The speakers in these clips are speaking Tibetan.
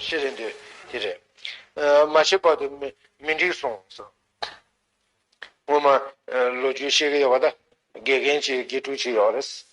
ཤེས་རིག་འདི་དེ་རེད། མ་ཤེས་པར་དུ་མི་འགྲིག་སོང་ཟེར། ངོ་མ་ལོ་རྒྱུས་ཤེས་ཀྱི་ཡོད་པ་དང་དགེ་རྒན་གྱི་དགེ་ཕྲུག་ཅིག་ཡོད་རེད།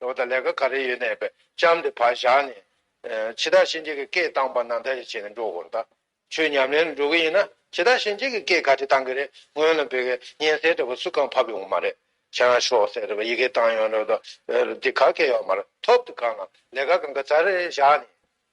ལོ་དང་ལས་ཀ་ག་རེ་ཡོད་ནས་པའི་ལྕམ་དེ་བག་བཞག་ནས། འཆི་བདག་གཤིན་རྗེ་གི་སྐད་བཏང་པ་ན་མཐའ་རེ་བྱས་ནས་འགྲོ་དགོས་རེད། ཆོས་ཉམས་ལེན་ལ་འགྲོ་གི་ཡིན་ན་འཆི་བདག་གཤིན་རྗེ་གི་སྐད་ག་དེ་བཏང་གི་རེད་སྔོན་ལ་བོད་སྐད་སྙན་གསལ་འདྲ་པོ་སུས་ཀང་ཕབ་ཡོང་གི་མ་རེད་ཁྱེད་རང་ཤོག་ཟེར་རེད་པ་ཡི་གེ་བཏང་ཡོང་རེད་པ་འདི་ག་སྐད་ཡོག་མ་རེད་ཐོབ་འདུག་གང་ལ་ལས་ཀ་གང་ག་ཚར་རེ་བཞག་ནས།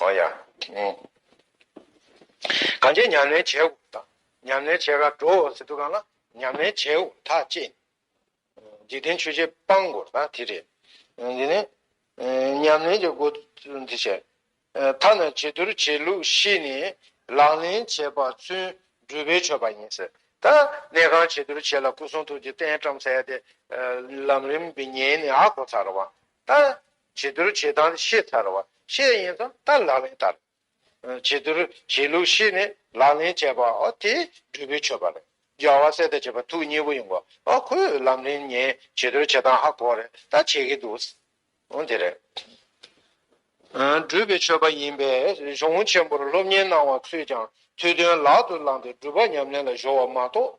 ཨོ་ཡ། གང་ཅིའི་ཉམས་ལེན་བྱེད་འོག་དང། ཉམས་ལེན་བྱེད་གར་འགྲོ་འོག་ཟེར་དུ་གང་ལ། ཉམས་ལེན་བྱེད་འོག་ཐག་བཅད་ནས། འཇིག་རྟེན་ཆོས་བྱེད་སྤང་དགོས་པ་དེ་རེད། འདི་ནི། ཉམས་ལེན་གྱི་འགོ། འདི་བྱས། ཐ་ན་བྱི་དོར་བྱེད་ལུགས་ཤེས་ནས། ལག་ལེན་བྱས་པ་ཚུན་སྦྲུལ་པའི་ཆོས་པ་ཡིན་ཟེར། ད་གནས་ཁང་བྱི་དོར་བྱེད་ལ་སྐུ་གསུང་ཐུགས་ཀྱི་རྟེན་བཀྲམ་ཟེར་ཏེ། ལམ་རིམ་གྱི་ཉེས་ནི་ཨ་གོ་ཚར་བ། ད། བྱི་དོར་བྱེད་སྟངས་ཤེས་ཚར་བ་ཤེས་ཡིན་ཙང་ད་ལག་ལེན་བསྟར། བྱི་དོར་བྱེད་ལུགས་ཤེས་ནས་ལག་ལེན་བྱས་པ་དེ་སྦྲུལ་པའི་མཆོད་པ་རེད། སྦྱར་བ་གསེར་དང་བྱེད་པ་ཐུགས་མཉེས་པོ་ཡིན་གོ། ཁོས་ལམ་རིམ་ངས་བྱི་དོར་བྱེད་སྟངས་ཧ་གོ་རེད་ད་བྱེད་ཀྱི་འདུག། དེ་རེད། སྦྲུལ་པའི་མཆོད་པ་ཡིན་པས་གཞུང་བོན་ཆེན་པོར་སློབ་གཉེར་གནང་བ་ཚོས་ཀྱང་ཐུགས་དོན་ལག་ཏུ་བླངས་ཏེ་སྦྲུལ་པ་ཉམས་ལེན་ལ་གཞོལ་བ་མ་གཏོགས།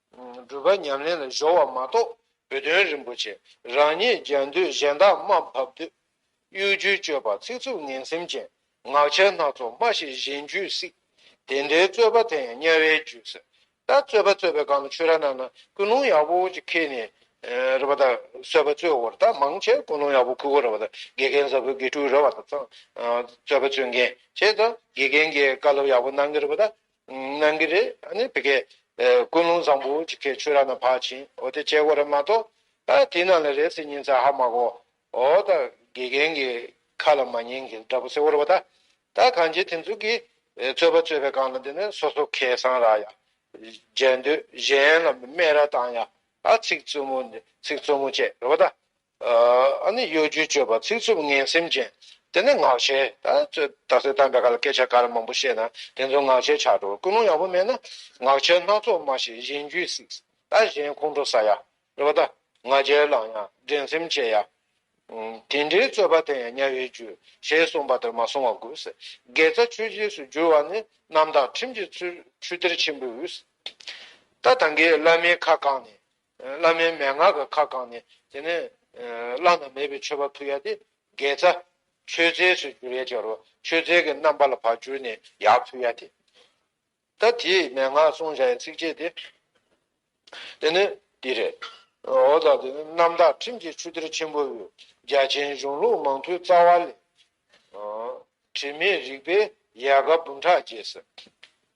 སྒྲུབ་པ་ཉམས་ལེན་ལ་གཞོལ་བ་མ་གཏོགས་བུ་སྟོན་རིན་པོ་ཆེ་རང་ཉིད་རྒྱལ་མདོས་གཞན་དག་དམའ་འབབ་དུས། གཡོ་སྒྱུའི་སྤྱོད་པ་ཚིག་རྩུབ་ངན་སེམས་ཅན། ངག་འཆལ་སྣ་ཚོགས་སྨྲ་ཞིང་གཞན་རྒྱུད་བསྲིག། དེ་འདྲའི་རྩོད་པ་དེ་ཡང་དམྱལ་བའི་རྒྱུད་ཟེར། ད་རྩོད་པ་རྩོད་པའི་སྒང་ལ་ཆུ་ར་ནང་ན་ཀུན་སློང་ཡག་པོ་ཅིག་ཁེལ་ནས་རེད་པ་དང་རྩོད་པ་རྩོད་བོར་ད་མང་ཆེ་ཀུན་སློང་ཡག་པོ་ཁུར་བོ་རེད་པ་དང་དགེ་རྒན་གཟའ་ཕུར་དགེ་ཕྲུག་རེད་བ་དང་ཚང་རྩོད་པ་རྩོད་མཁན་ཆེ་ད་དགེ་རྒན་གྱིས་བཀའ་སློབ་ཡག་པོ་གནང་གི་རེད་པ་ད་གནང་གི་རེད་ཨ་ནི་བི་ཀའི། ཀུན་སློང་བཟང་པོ་ཅིག་ཁྱེད་ཆོས་ར་ན་བག་ཕྱིན་འོ་དེ་བྱས་གོ་རེ་མ་གཏོགས། ཨ་དེ་ནང་ལ་རེད་ཟེར་ཉིན་ཚ་ཧ་མ་གོ། འོ་ད་དགེ་རྒན་གི་ཁ་ལ་མ་ཉན་གི་འདྲ་པོ་ཟེར་བོར་བ་ད། ད་གང་བྱེད་དེ་ཚོ་གིས་རྩོད་པ་རྩོད་པའི་སྒང་ལ་འདི་ནས་སོ་སོ་ཁེ་བཟང་རག་ཡ། མཇལ་འདོད་གཞན་ལ་སྨད་ར་བཏང་ཡ། ཨ་ཚིག་རྩུབ་མོ་ཚིག་རྩུབ་མོ་བཅད་རོ་བ་ད། ཨ་ནི་གཡོ་སྒྱུའི་སྤྱོད་པ་ཚིག་རྩུབ་ངན་སེམས་ཅན། དེ་ནི་ངག་འཆལ། ད་གཟོད་དམ་པའི་བཀའ་ལ་སྐད་ཆ་འགའ་རེ་མང་པོ་བཤད་ན་དེ་ཚོ་ངག་འཆལ་ཆགས་འགྲོ་ཀུན་སློང་ཡག་པོ་མེད་ན་ངག་འཆལ་སྣ་ཚོགས་སྨྲ་ཞིག་གཞན་རྒྱུད་གཟིགས་ད་གཞན་ཁོང་ཁྲོ་ཟ་ཡ་རེད་བ་ད་ང་རྒྱལ་བླངས་ཡང་འགྲན་སེམས་བསྐྱེད་ཡ། དེ་འདྲའི་རྩོད་པ་དེ་ཡང་དམྱལ་བའི་རྒྱུ་ཞེས་གསུངས་པ་དེར་མ་སོང་བ་དགོས། དགེ་རྩ་ཆོས་རྗེས་སུ་བསྒྱུར་བ་ནི་རྣམ་དག་ཁྲིམས་ཀྱི་ཚུལ་ཆུ་གཏེར་ཆེན་པོའི་དབུས། ད་ད་གིས་བླ་མའི་ཁ་བཀང་ནས། བླ་མའི་མན་ངག་གི་ཁ་བསྐང་ནས་དེ་ནས། བླ་ན་མེད་པའི་མཆོད་པ་ཕུལ་ཡ་དེ། དགེ་རྩ། མཆོད་རྫས་སུ་འགྱུར་ཡ་སྦྱར་བ་མཆོད་རྫས་ཀྱི་རྣམ་པ་ལ་བར་གྱུར་ནས་ཡང་ཕུལ་ཡ་དེ། ད་དེས་མན་ངག་གསུང་བྱ་ཡི་ཚིགས་བཅད་དེ། དེ་ནས། འདི་རེད། འོ་ད་དེ་རྣམ་དག་ཁྲིམས་ཀྱི་ཆུ་གཏེར་ཆེན་པོ་འོད། རྒྱ་ཆེན་གཞུང་ལུགས་མང་ཐོས་རྩ་བ་ལས། དྲི་མེད་རིག་པའི་ཡལ་ག་འབུམ་ཕྲག་རྒྱས།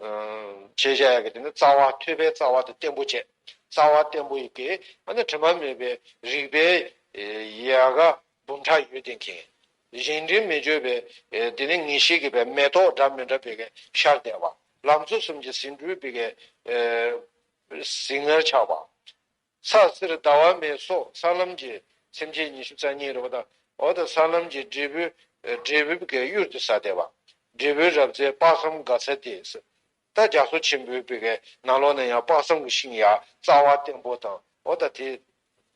བྱེད་བྱ་ཡང་གི་དེ་ནི་རྩ་བ་ཐོས་པའི་རྩ་བ་དང་བརྟན་པོ་བྱེད། རྩ་བ་བརྟན་པོ་ཡི་གེ་ཨ་ནི་དྲི་མ་མེད་པའི་རིག་པའི་ཡལ་ག་འབུམ་ཕྲག་ཡོད་དེ་མཁྱེན། གཞན་དྲི་མི་བརྗོད་པའི་དེ་ནི་ངེས་ཤེས་ཀྱི་བས་མེ་ཏོག་འདྲ་མི་འདྲ་བས་ཤར་བདལ་བ། ལམ་གཙོ་གསུམ་གྱི་ཟིན་འཁྲུལ་བས་ཟིལ་ངར་ཆགས་པ། ཚགས་གསེར་ཟླ་བ་མེ་སོགས་ས་ལམ་གྱི་སེམས་ཅན་ཉི་ཤུ་རྩ་གཉིས་རི་བོ་དང་འོག་ཏུ་ས་ལམ་གྱི་འབྲས་བུ། འབྲས་བུ་བཀའི་གཡུར་དུ་ས་དེ་བ། འབྲས་བུའི་རབ་རྩེ་དཔག་བསམ་དགའ་ཚལ་ཏེ་སི། རྟ་རྒྱ་མཚོ་ཆེན་པོའི་བི་གའི་ནང་ལོགས་ན་ཡང་དཔག་བསམ་གྱི་ཤིང་ཡ་རྩ་བ་བརྟན་པོ་དང་འོག་ཏུ་དེ།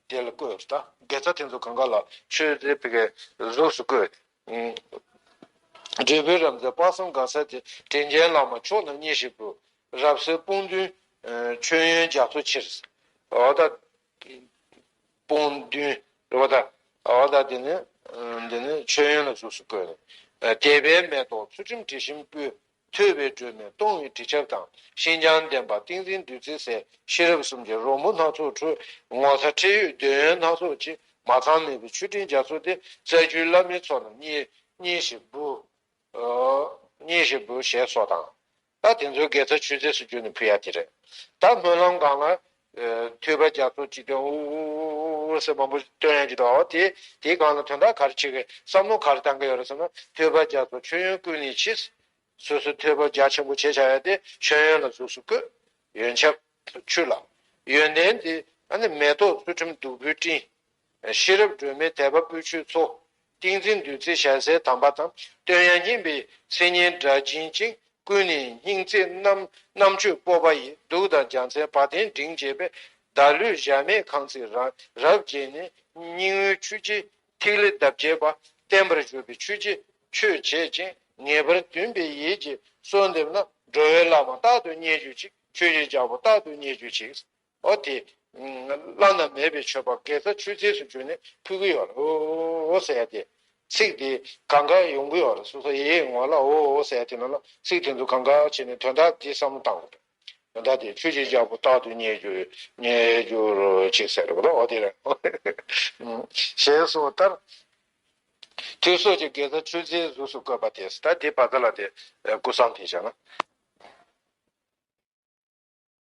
དེ་ལ་བཀོད། རྟ་རྒྱ་རྩ་དེ་ཚོ་གང་ག་ལ་ཆོས་རྩེའི་བི་གའི་གཟུགས་སུ་བཀོད། འབྲས་བུའི་རབ་མཛེས་དཔག་བསམ་དགའ་ས་དེ་དྲིན་རྒྱལ་བླ་མ་མཆོག་རྣམས་མཉེས་ཤིག་བུ། རབ་གསལ་དཔུང་མདུན་མཆོད་ཡོན་རྒྱ་མཚོ་ཆེར། འོ་ད། དཔུང་མདུན། འོ་ད། འོ་ད་འདི་ནི། འདི་ནི་མཆོད་ཡོན་ལ་གཟུགས་སུ་བཀོད། ནས། དད་པའི་མེ་ཏོག་ཚུལ་ཁྲིམས་དྲི་ཞིམ་སྤོས། ཐོས་པའི་སྒྲོན་མེ་སྟོང་བའི་དྲི་ཆབ་དང་ཤིན་སྦྱངས་ལྡན་པ་ཏིང་འཛིན་བདུད་རྩི་ཟད་ཤེས་རབ་གསུམ་གྱི་རོལ་མོ་སྣ་ཚོགས་འཁྲོལ། ངོ་ཚ་ཁྲེལ་ཡོད་འདོད་ཡོན་སྣ་ཚོགས་ཕྱེ་མ་ཚང་མེད་པའི་མཆོད་སྤྲིན་རྒྱ་མཚོ་སྟེ་རྩ་རྒྱུད་བླ་མའི་ཚོགས་རྣམས་མཉེས། མཉེས་ཤིག་བུ། མཉེས་ཤིག་བུ་ཞེས་སོགས་དང། ད་དེ་ཚོའི་དགེ་རྩ་ཆུད་ཟས་སུ་གྱུར་ནས་ཕུལ་ཡ་དེ་རེད། ད་སྨོན་ལམ་སྒང་ལ་ཐོས་པ་རྒྱ་མཚོ་གཅིག་དོན་དབུ་ཟེར་མང་པོ་བཏོན་ཡང་ཇི་ལྟ་བའོ། དེའི་སྒང་ལ་དོན་དག་ག་རེ་བྱེད་དགོས་བསམ་མནོ་ག་རེ་བཏང་གི་ཡོད་རེད་བསམ་ན། ཐོས་པ་རྒྱ་མཚོ་མཆོད་ཡོན་བསྐུལ་ནས་ཕྱིས། སོ་སོའི་ཐོས་པ་རྒྱ་ཆེན་པོ་བྱེད་བྱ་ཡ་སྟེ་མཆོད་ཡོན་ལ་གཟུགས་སུ་བཀོད། ཡོན་ཆབ། ཆུ་ལ། ཡོན་ཏན་དེ། མེ་ཏོག་ཚུལ་ཁྲིམས་བདུག་སྤོས་སྤྲིན། ཤེས་རབ་སྒྲོན་མེ་དད་པ་སྤོས་ཆུའི་མཚོ། ཏིང་འཛིན་བདུད་རྩི་ཞལ་ཟས་དམ་པ་དང་བསྟོད་དབྱངས་སྙན་པའི་མཚན་སྙན་སྒྲ་འབྱིན་ཅིང་ཀུན་ནས་སྙིང་བརྩེ་རྣམས་རྣམ་དཔྱོད་སྤོབས་པ་ཡིས་གདུགས་དང་རྒྱ་མཚན་བ་དན་མགྲིན་བཅས་པའི་བདག་ལུས་གཞལ་མེད་ཁང་བརྩེགས་རང་རབ་བརྒྱན་ནས་སྙིང་བོའི་ཆུ་སྐྱེས་ཐིག་ལེ་འདབ་བརྒྱད་པ་བརྟན་པར་བཞུགས་པའི་ཆོས་རྗེ་ཆོས་བྱེད་ཅིང་ངེས་པར་འདུན་པའི་ཡིད་ཀྱིས་གསོལ་འདེབས་ན་འགྲོ་བའི་བླ་མ་རྟག་ཏུ་མཉེས་གྱུར་ཅིག་ཆོས་རྗེ་རྒྱལ་པོ་རྟག་ཏུ་མཉེས་གྱུར་ཅིག། འོ་དེ། བླ་ན་མེད་པའི་མཆོད་པ་དགེ་རྩ་ཆུད་ཟས་སུ་གྱུར་ནས་ཕུལ་གྱི་ཡོད་ལ་འོ་འོ་ཟེར་ཏེ། ཚིག་དེ་གང་ག་ཡོང་གི་ཡོད་ལ་སོ་སོ་ཡེ་ཡེ་ངོ་ལ་འོ་འོ་ཟེར་དེ་མིན་ལ་ཚིག་དེ་ཚོ་གང་ག་བྱས་ནས་དོན་དག་འདི་བསམ་བློ་བཏང་དགོས། དོན་དག་དེ་ཆོས་རྗེ་རྒྱལ་པོ་རྟག་ཏུ་རྙེད་རྒྱུ་རྙེད་རྒྱུར་ཅིག་ཟེར་རོ་འོ་དེ། ཞེས་སོགས་ལྟར། ཐུགས་སྲོག་གཅིག་དགེ་རྩ་ཆུད་ཟས་གཟུགས་སུ་བཀོད་པ་དེས་ད་དེ་བ་ཚ་ལ་དེ་སྐུ་བསམ་ཐེངས་བྱས་ན།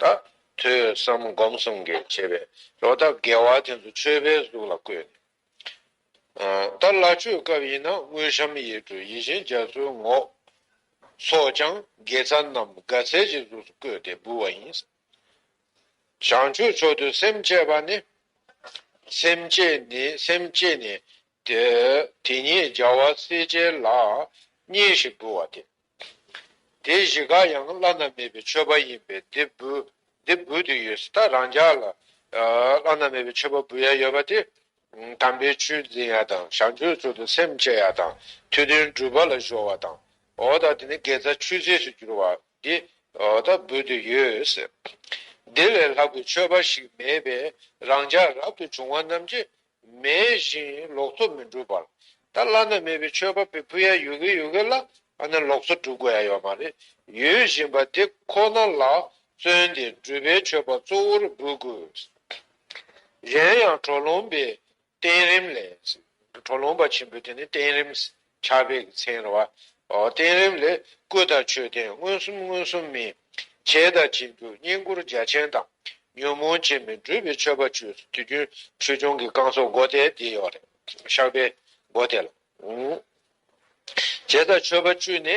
ད་ཐོས་བསམ་སྒོམ་གསུམ་གྱི་བྱེད་པས་ལོ་འདབ་བརྒལ་བ་དེ་ཚོ་ཆོས་པའི་གཟུགས་ལ་བཀོད་ནས། ད་སླ་ཆོས་སྐབས་ཡིན་ན་དངུལ་ཤམ་ཡིག་འབྲུ་ཡིད་བཞིན་རྒྱ་མཚོའི་ངོགས། སོགས་ཀྱང་དགེ་རྩ་རྣམས་དགའ་ཚལ་གྱི་གཟུགས་སུ་བཀོད་དེ་འབུལ་བ་ཡིན། བྱང་ཆུབ་མཆོག་ཏུ་སེམས་བསྐྱེད་པ་ནི། སེམས་བསྐྱེད་ནི་སེམས་བསྐྱེད་ནི། དེ་ཉིད་རྒྱལ་བ་སྲས་བཅས་ལ། གཉིས་ཤིག་འབུལ་བ་སྟེ། དེ་བཞི་ག་ཡང་བླ་ན་མེད་པའི་མཆོད་པ་ཡིན་པས་འདི་འབུལ་འདི་འབུལ་དུ་ཡོད་སྲིད་ད་རང་ཅག་ལ་བླ་ན་མེད་པའི་མཆོད་པ་འབུལ་ཡ་ཡོད་པ་དེ། དམ་པའི་ཆོས་འཛིན་ཡ་དང་ཞག་མཆོད་ཚུལ་དུ་སེམས་བསྐྱེད་ཡ་དང་ཐུགས་དོན་སྒྲུབ་པ་ལ་གཞོལ་བ་དང། འོ་ད་དེ་ནི་དགེ་རྩ་ཆུད་ཟོས་སུ་གྱུར་བ་འདི་ད་འབུལ་དུ་ཡོད་སྲིད། འདི་ལས་ལྷག་པའི་མཆོད་པ་ཞིག་མེད་པས་རང་ཅག་རབ་ཏུ་བྱུང་བ་རྣམས་ཀྱིས་མེད་བཞིན་ལོག་འཚོ་མི་འགྲུབ་པར། ད་བླ་ན་མེད་པའི་ཆོས་པ་པོའི་ཕུ་ཡ་ཡུ་གེ་ཡུ་གེ་ལ་ཨ་ནི་ལོག་འཚོ་སྒྲུབ་དགོས་ཡ་ཡོད་མ་རེད། ཡོད་བཞིན་པ་དེ་ཁོ་ན་ལ་བརྩོན་ཏེ་འགྲུབ་པའི་ཆོས་པ་གཙོ་བོར་འབུལ་དགོས། གཞན་ཡང་གྲོ་ལོང་པའི་བསྟན་རིམ་ལས། གྲོ་ལོང་པ་ཆེན་པོའི་དེ་ནི་བསྟན་རིམ། ཕྱག་དཔེ་གྱི་ཚེ་ར་བ། བསྟན་རིམ་ལས། སྐུ་དང་མཆོད་རྟེན་མངོན་སུམ་མངོན་སུམ་མིན། བྱད་དང་བྱིན་གྱུར་བསྙེན་བཀུར་རྒྱ་ཆེན་དང། ཉོན་མོངས་བྱེད་མི་འགྲུབ་པའི་མཆོད་པ་བཅུ། དུས་རྒྱུན་ཆོས་སྐྱོང་གི་བསྐང་གསོ་སྒོ་དེ་འདི་ཡོད་རེད། ཕྱག་དཔེ། སྒོ་དེ་ལ། བྱད་དང་མཆོད་པ་བཅུ་ནི།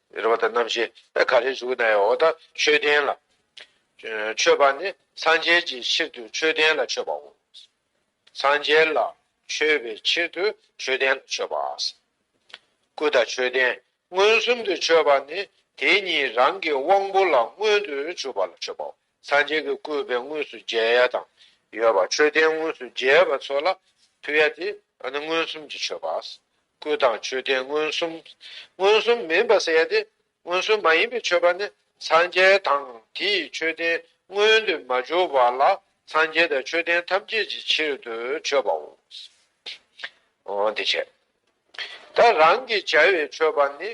རེ་བ་དང་རྣམ་བཞི་ག་རེ་བཞུགས་ན་ཡང་འོ་ད་མཆོད་རྟེན་ལ་མཆོད་པ་ནི་སངས་རྒྱས་ཀྱི་ཕྱིར་དུ་མཆོད་རྟེན་ལ་མཆོད་པའོ། སངས་རྒྱས་ལ་མཆོད་པའི་ཕྱིར་དུ་མཆོད་རྟེན་ལ་མཆོད་པ། སྐུ་དང་མཆོད་རྟེན་མངོན་སུམ་དུ་མཆོད་པ་ནི་དེ་གཉིས་རང་གི་དབང་པོ་ལ་མངོན་དུ་གྱུར་པ་ལ་མཆོད་པའོ། སངས་རྒྱས་ཀྱི་སྐུའི་བས་དངོས་སུ་མཇལ་ཡ་དང། ཡོད་པ་མཆོད་རྟེན་དངོས་སུ་མཇལ་བ་ཚོ་ལ་ཕུལ་ཡ་དེ་མངོན་སུམ་གྱི་མཆོད་པ། སྐུ་དང་མཆོད་རྟེན་མངོན་སུམ། མངོན་སུམ་མིན་པ་ཟེར་ཡ་དེ་མངོན་སུམ་མ་ཡིན་པའི་མཆོད་པ་ནི་སངས་རྒྱས་དང་དེའི་མཆོད་རྟེན་མངོན་དུ་མ་གྱུར་བ་ལ་སངས་རྒྱས་དང་མཆོད་རྟེན་ཐམས་ཅད་ཀྱི་ཕྱིར་དུ་མཆོད་པའོ། འོ་དེ་བྱས་ད་རང་གིས་བྱ་བའི་མཆོད་པ་ནི་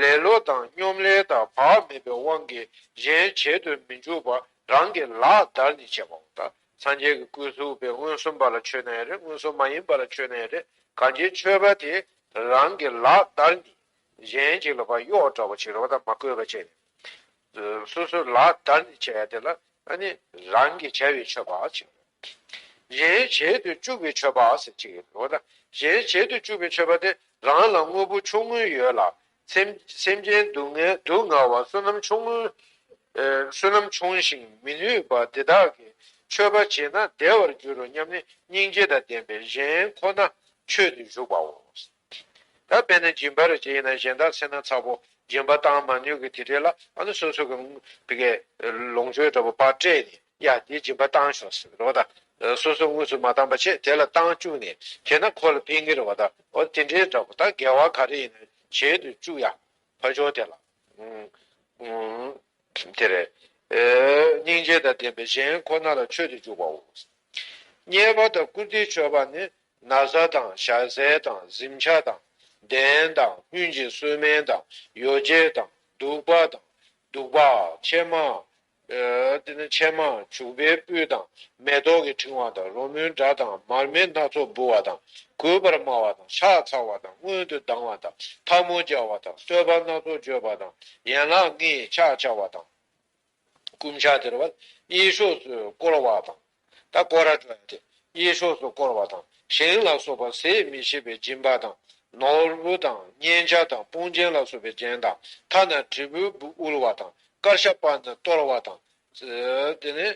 ལེ་ལོ་དང་སྙོམ་ལས་དག་བག་མེད་པའི་དབང་གིས་གཞན་བྱེད་དུ་མི་འཇུག་པ་རང་གི་ལག་བདར་ནས་བྱས་པའོ། ད་སངས་རྒྱས་ཀྱི་སྐུའི་གཟུགས་པའི་མངོན་སུམ་པ་ལ་ཆོས་ན་ཡང་རེ་མངོན་སུམ་མ་ཡིན་པ་ལ་ཆོས་ན་ཡང་རེ་གང་ཅིའི་མཆོད་པ་དེས་རང་གི་ལག་བདར་ནས་གཞན་གྱི་ལ་བ་གཡོག་འདྲ་བ་བྱེད་རོགས་དང་མ་བསྐོས་པ་བྱས་ནས། སོ་སོའི་ལག་བདར་ནས་བྱ་བ་དེ་ལ་ནི་རང་གི་བྱ་བའི་མཆོད་པ་བྱེད། གཞན་བྱེད་དུ་བཅུག་པའི་མཆོད་པ་ཟེར་གྱི་ཡོད་དོ། གཞན་བྱེད་དུ་བཅུག་པའི་མཆོད་པ་དེ་རང་ལ་དངོས་པོ་ཆུང་ངུ་ཡོད་ལ། སེམས་ཅན་སྡུག་བསྔལ་བ་བསོད་ནམས་ཆུང་ཞིང་མི་ནུས་པ་དེ་དག་གི་མཆོད་པ་བྱས་ན་བདེ་བར་འགྱུར་རོ་སྙམ་ནས་སྙིང་རྗེ་དང་ལྡན་པས་གཞན་ཁོ་ན་མཆོད་དུ་གཞུག་པའོ། ད་དཔེ་ན་སྦྱིན་པར་བྱེད་ཡིན་ན་གཞན་དག་ཚེ་ན་ཚ་བོ་སྦྱིན་པ་བཏང་མ་ནུས་ཀྱི་དེ་འདྲས་ལ་ཨ་ནུ་སོ་སོ་གི་བི་ཀའི་ལོངས་སྤྱོད་འདྲ་བོ་པར་སྤྲད་ནས་ཡ་དེ་སྦྱིན་པ་བཏང་ཤོག་ཟེར་རོགས་ད་སོ་སོ་དངོས་སུ་མ་བཏང་པ་ཆེད་དེ་ལ་བཏང་བཅུག་ནས་དེས་ན་ཁོ་ལ་ཕན་གི་རེད་བ་ད་འོ་དེ་འདྲས་འདྲ་བོ་ད་འགལ་བ་ག་རེ་ཡིན་ན་བྱེད་དུ་བཅུག་ཡ་ཕ་ཆོག་དེ་ལ་དེ་རེད་སྙིང་རྗེ་དང་ལྡན་པའི་གཞན་ཁོ་ན་ལ་མཆོད་དུ་བཅུག་པའོ། གཉེར་པ་དང་བཀུར་སྟི་མཆོད་པ་ནི་ན་བཟའ་དང་ཞག་ཟས་དང་གཟིམ་ཆ་དང་གདན་དང་སྤུན་གྱི་གསོལ་སྨན་དང་ཡོ་བྱད་དང་བདུག་པ་དང་བདུག་པ། ཕྱེ་མ། དེ་ནས་ཕྱེ་མ་བྱུག་པའི་སྤོས་དང་མེ་ཏོག་གི་ཕྲེང་བ་དང་རོལ་མོའི་སྒྲ་དང་མར་མེ་སྣ་ཚོགས་འབུལ་བ་དང་གུས་པར་སྨྲ་བ་དང་ཕྱག་འཚལ་བ་དང་སྔོན་དུ་ལྡང་བ་དང་འཐབ་མོ་སྦྱར་བ་དང་གསོལ་བ་སྣ་ཚོགས་བརྗོད་པ་དང་ཡན་ལག་ལྔའི་ཕྱག་བྱ་བ་དང། བསྐུམ་བྱ་དེར་བ་གཡས་ཕྱོགས་སུ་བསྐོར་བ་དང། ད་ཀོ་ར་ཏྲ་ཡ་དེ་གཡས་ཕྱོགས་སུ་བསྐོར་བ་དང་ཞིང་ལ་སོགས་པ་ཟས་མི་ཤེས་པའི་སྦྱིན་པ་དང། ནོར་བུ་དང་སྙན་ཆ་དང་དཔུང་རྒྱན་ལ་སོགས་པའི་རྒྱན་དང་མཐའ་ན་དྲིལ་བུ་དབུལ་བ་དང་དཀར་ཤ་པ་ན་གཏོར་བ་དང། དེ་ནས།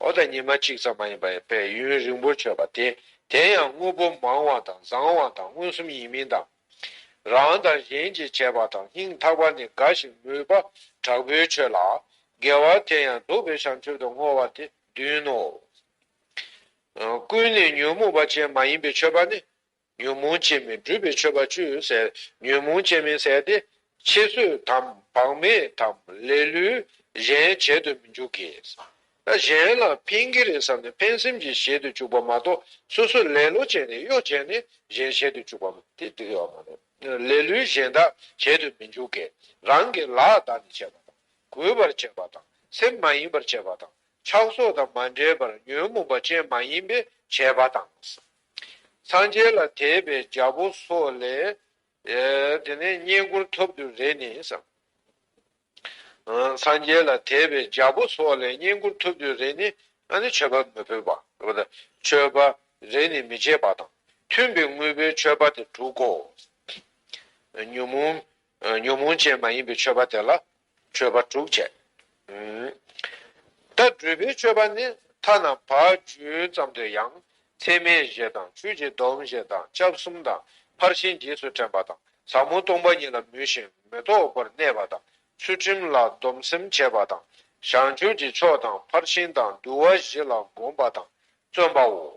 འོ་ད་ཉི་མ་གཅིག་ཙམ་མ་ཡིན་པ་ཡང་པས་ཡུན་རིང་པོར་ཆོད་པ་དེ་དེ་ཡང་དངོས་པོ་མང་བ་དང་བཟང་བ་དང་མངོན་སུམ་ཡིན་མིན་དང། རང་དང་གཞན་གྱིས་བྱས་པ་དང་སྙིང་ཐག་པ་ནི་འགའ་ཞིག་མོས་པ་དྲག་པོའི་ཆོས་ལ་དགེ་བ་དེ་ཡང་སྡུག་པའི་བྱང་ཆུབ་ཏུ་བསྔོ་བ་སྟེ་བདུན་ནོ། ཀུན་ནས་ཉོན་མོངས་པ་ཅན་མ་ཡིན་པའི་མཆོད་པ་ནི་ཉོན་མོངས་ཅན་མིན་སྒྲུབ་པའི་མཆོད་པ་བཅུ་ཟད་ཉོན་མོངས་ཅན་མིན་ཟད་དེ། ཕྱི་བསོད་དམ་བག་མེད་དམ་ལས་ལུས་གཞན་བྱེད་དུ་མི་འཇུག་གི། གཞན་ལ་ཕན་གི་རེད་བསམ་ནས་ཕན་སེམས་ཀྱིས་བྱེད་དུ་བཅུག་པ་མ་གཏོགས་སོ་སོ་ལེ་ལོ་བྱས་ནས་གཡོ་བྱས་ནས་གཞན་བྱེད་དུ་བཅུག་པ་དེ་འགྲིག་ཡོད་མ་རེད། ལས་ལུས་གཞན་དག་བྱེད་དུ་མི་འཇུག་གི། རང་གི་ལག་བདག་ནི་བྱེད་པ་དང་གུས་པར་བྱེད་པ་དང་སེམས་མ་ཡིན་པར་བྱེད་པ་དང་ཕྱག་སོགས་དང་མ་འབྲེལ་པར་ཉོན་མོངས་པ་ཅན་མ་ཡིན་པས་བྱེད་པ་དང། སངས་རྒྱས་ལ་དད་པའི་རྒྱ་པོ་སོགས་ལས། དེ་ནས་བསྙེན་བཀུར་ཐོབ་དུས་རེ་ནི་བསམ། སངས་རྒྱས་ལ་དད་པའི་རྒྱ་པོ་སོགས་ལས་བསྙེན་བཀུར་ཐོབ་དུས་རེ་ནི། མཆོད་པ་མི་ཕོད་པ། མཆོད་པ་རེ་ནི་མི་བྱེད་པ་དང་མཐུན་པའི་དངོས་པོའི་མཆོད་པ་དེ་དྲུག་གོ། ཉོན་མོངས་ཅན་མ་ཡིན་པའི་མཆོད་པ་དེ་ལ་མཆོད་པ་དྲུག་བྱས། ད་སྦྲུལ་པའི་མཆོད་པ་ནི་ཐ་ན་བ་བཅུའི་ཙམ་དུ་ཡང་ཚེར་མའི་བཞད་དང་ཆུ་བྱི་དོམ་བཞད་དང་ལྕགས་གསུམ་དང་ཕར་ཕྱིན་རྗེས་སུ་དྲན་པ་དང་ཟབ་མོ་སྟོང་པ་ཉིད་ལ་མོས་ཤིང་མི་རྟོག་པར་གནས་པ་དང་ཚུལ་ཁྲིམས་ལ་སྡོམ་སེམས་བྱེད་པ་དང་བྱང་ཆུབ་ཀྱི་ཕྱོགས་དང་ཕར་ཕྱིན་དང་འདུལ་བ་བཞི་ལ་དགོངས་པ་དང་བརྩོན་པའོ།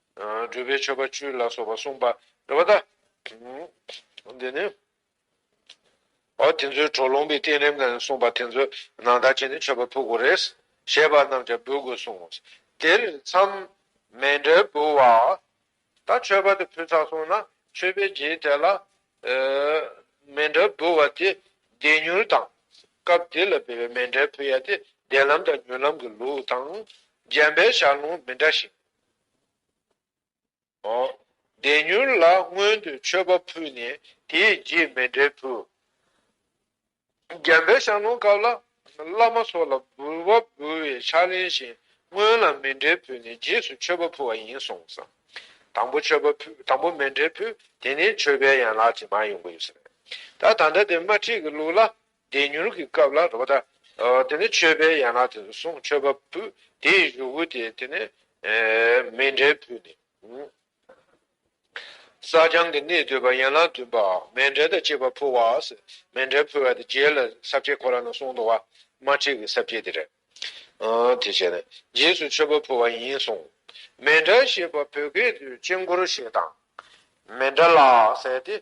བགྲོད་པའི་མཆོད་པ་བཅུ་ལ་སོགས་པ་གསུངས་པ་རེད་པ་དང། འདི་ནི། འོ་དེ་ཚོའི་གྲོགས་ལུང་པའི་བསྟན་རིམ་ནང་གསུངས་པ་དེ་ཚོ་ནང་དག་བྱས་ནས་མཆོད་པ་ཕུལ་དགོས་རེད། ཞེས་པ་རྣམས་ཀྱང་འབུལ་དགོས་གསུངས། དེར་མཚམས་མེད་འབྲས་བུ་བ། ད་མཆོད་པ་དེ་ཕུལ་ཚར་སོང་ན་མཆོད་པའི་རྗེས་དེ་ལ། མེ་འབྲས་བུ་བ་དེ་བདེ་མྱུར་དང། སྐབས་དེ་ལ་འབུལ་བའི་མེ་འབྲས་བུ་ཡ་དེ་བདེ་ལམ་དང་མྱུར་ལམ་གྱི་ལུགས་དང། འཇམ་པའི་ཞག་ལུང་མི་འདྲ་ཞིང། བདེ་མྱུར་ལ་སྔོན་དུ་མཆོད་པ་ཕུལ་ནས་དེས་རྗེས་མེད་འབྲས་བུ། རྒྱལ་བའི་ཞང་ལོངས་སྐབས་ལ་བླ་མ་སོགས་ལ་འབུལ་བ་འབུལ་བའི་ཕྱག་ལེན་བཞིན་སྔོན་ལ་མེད་འབྲས་ཕུལ་ནས་རྗེས་སུ་མཆོད་པ་ཕུལ་བ་ཡིན་གསུངས། དང་པོ་མཆོད་པ་ཕུལ་དང་པོ་མེད་འབྲས་ཕུལ་དེ་ནས་མཆོད་པའི་ཡན་ལག་ཇི་མ་ཡོང་གི་ཡོད་ཟེར། ད་ད་ལྟ་དེ་དམར་ཁྲིད་ཀྱི་ལུགས་ལ་བདེ་མྱུར་གྱི་སྐབས་ལ་རོ། དེ་ནི་མཆོད་པའི་ཡན་ལག་དེ་གསུང་མཆོད་པ་བུ་དེའི་གཞུག་གུ་དེ་དེ་ནི་མེ་འབྲས་བུ་ནི། བསགས་སྦྱང་གི་གནས་བསྡུས་པ་ཡན་ལག་བདུན་པ་མེ་འབྲས་དང་བཅས་པ་ཕུལ་བ་མེ་འབྲས་ཕུལ་བ་དེ་རྗེས་ལ་ཟབ་ཁྱད་ཁོ་ར་ན་གསུང་དུ་བ་མ་ཁྲིད་ཀྱི་ཟབ་ཁྱད་དེ་རེད། དེ་བྱས་ནས་རྗེས་སུ་མཆོད་པ་ཕུལ་བ་ཡིན་གསུང། མེ་འབྲས་ཞེས་པ་བོད་སྐད་དུ་དཔྱིད་འཁོར་ཞེས་དང། མེ་འབྲས་ལ་ཟེར་ཏེ།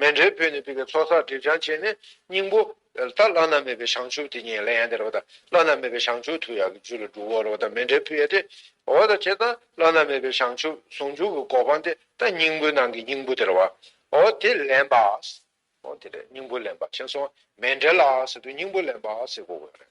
མེ་འབྲས་བུས་ནི་བསྡུས་པའི་ཚོགས་བསགས་སྒྲིབ་སྦྱང་བྱས་ནས་སྙིང་པོ། ད་བླ་ན་མེད་པའི་བྱང་ཆུབ་དེ་ཉིད་ལ་ཡང་དེ་རོ། བླ་ན་མེད་པའི་བྱང་ཆུབ་ཐུགས་ཡག་གི་རྒྱུད་ལ་འགྲུབ་བོ་རོ། མེ་འབྲས་བུ་ཡེ་སྟེ། འོ་ད་ཇི་ལྟར་བླ་ན་མེད་པའི་བྱང་ཆུབ་ཟུང་འཇུག་གི་གོ་འཕང་དེ་ད་སྙིང་པོའི་ནང་གི་སྙིང་པོ་དེ་རོ། འོ་དེ་ལེན་པ། འོ་དེ་རེད་སྙིང་པོ་ལེན་པ་ཞེས་སོགས་མེ་འབྲས་ལ་སོགས་དུས་སྙིང་པོ་ལེན་པ་ཞེས་གོ་དགོས་པ་རེད།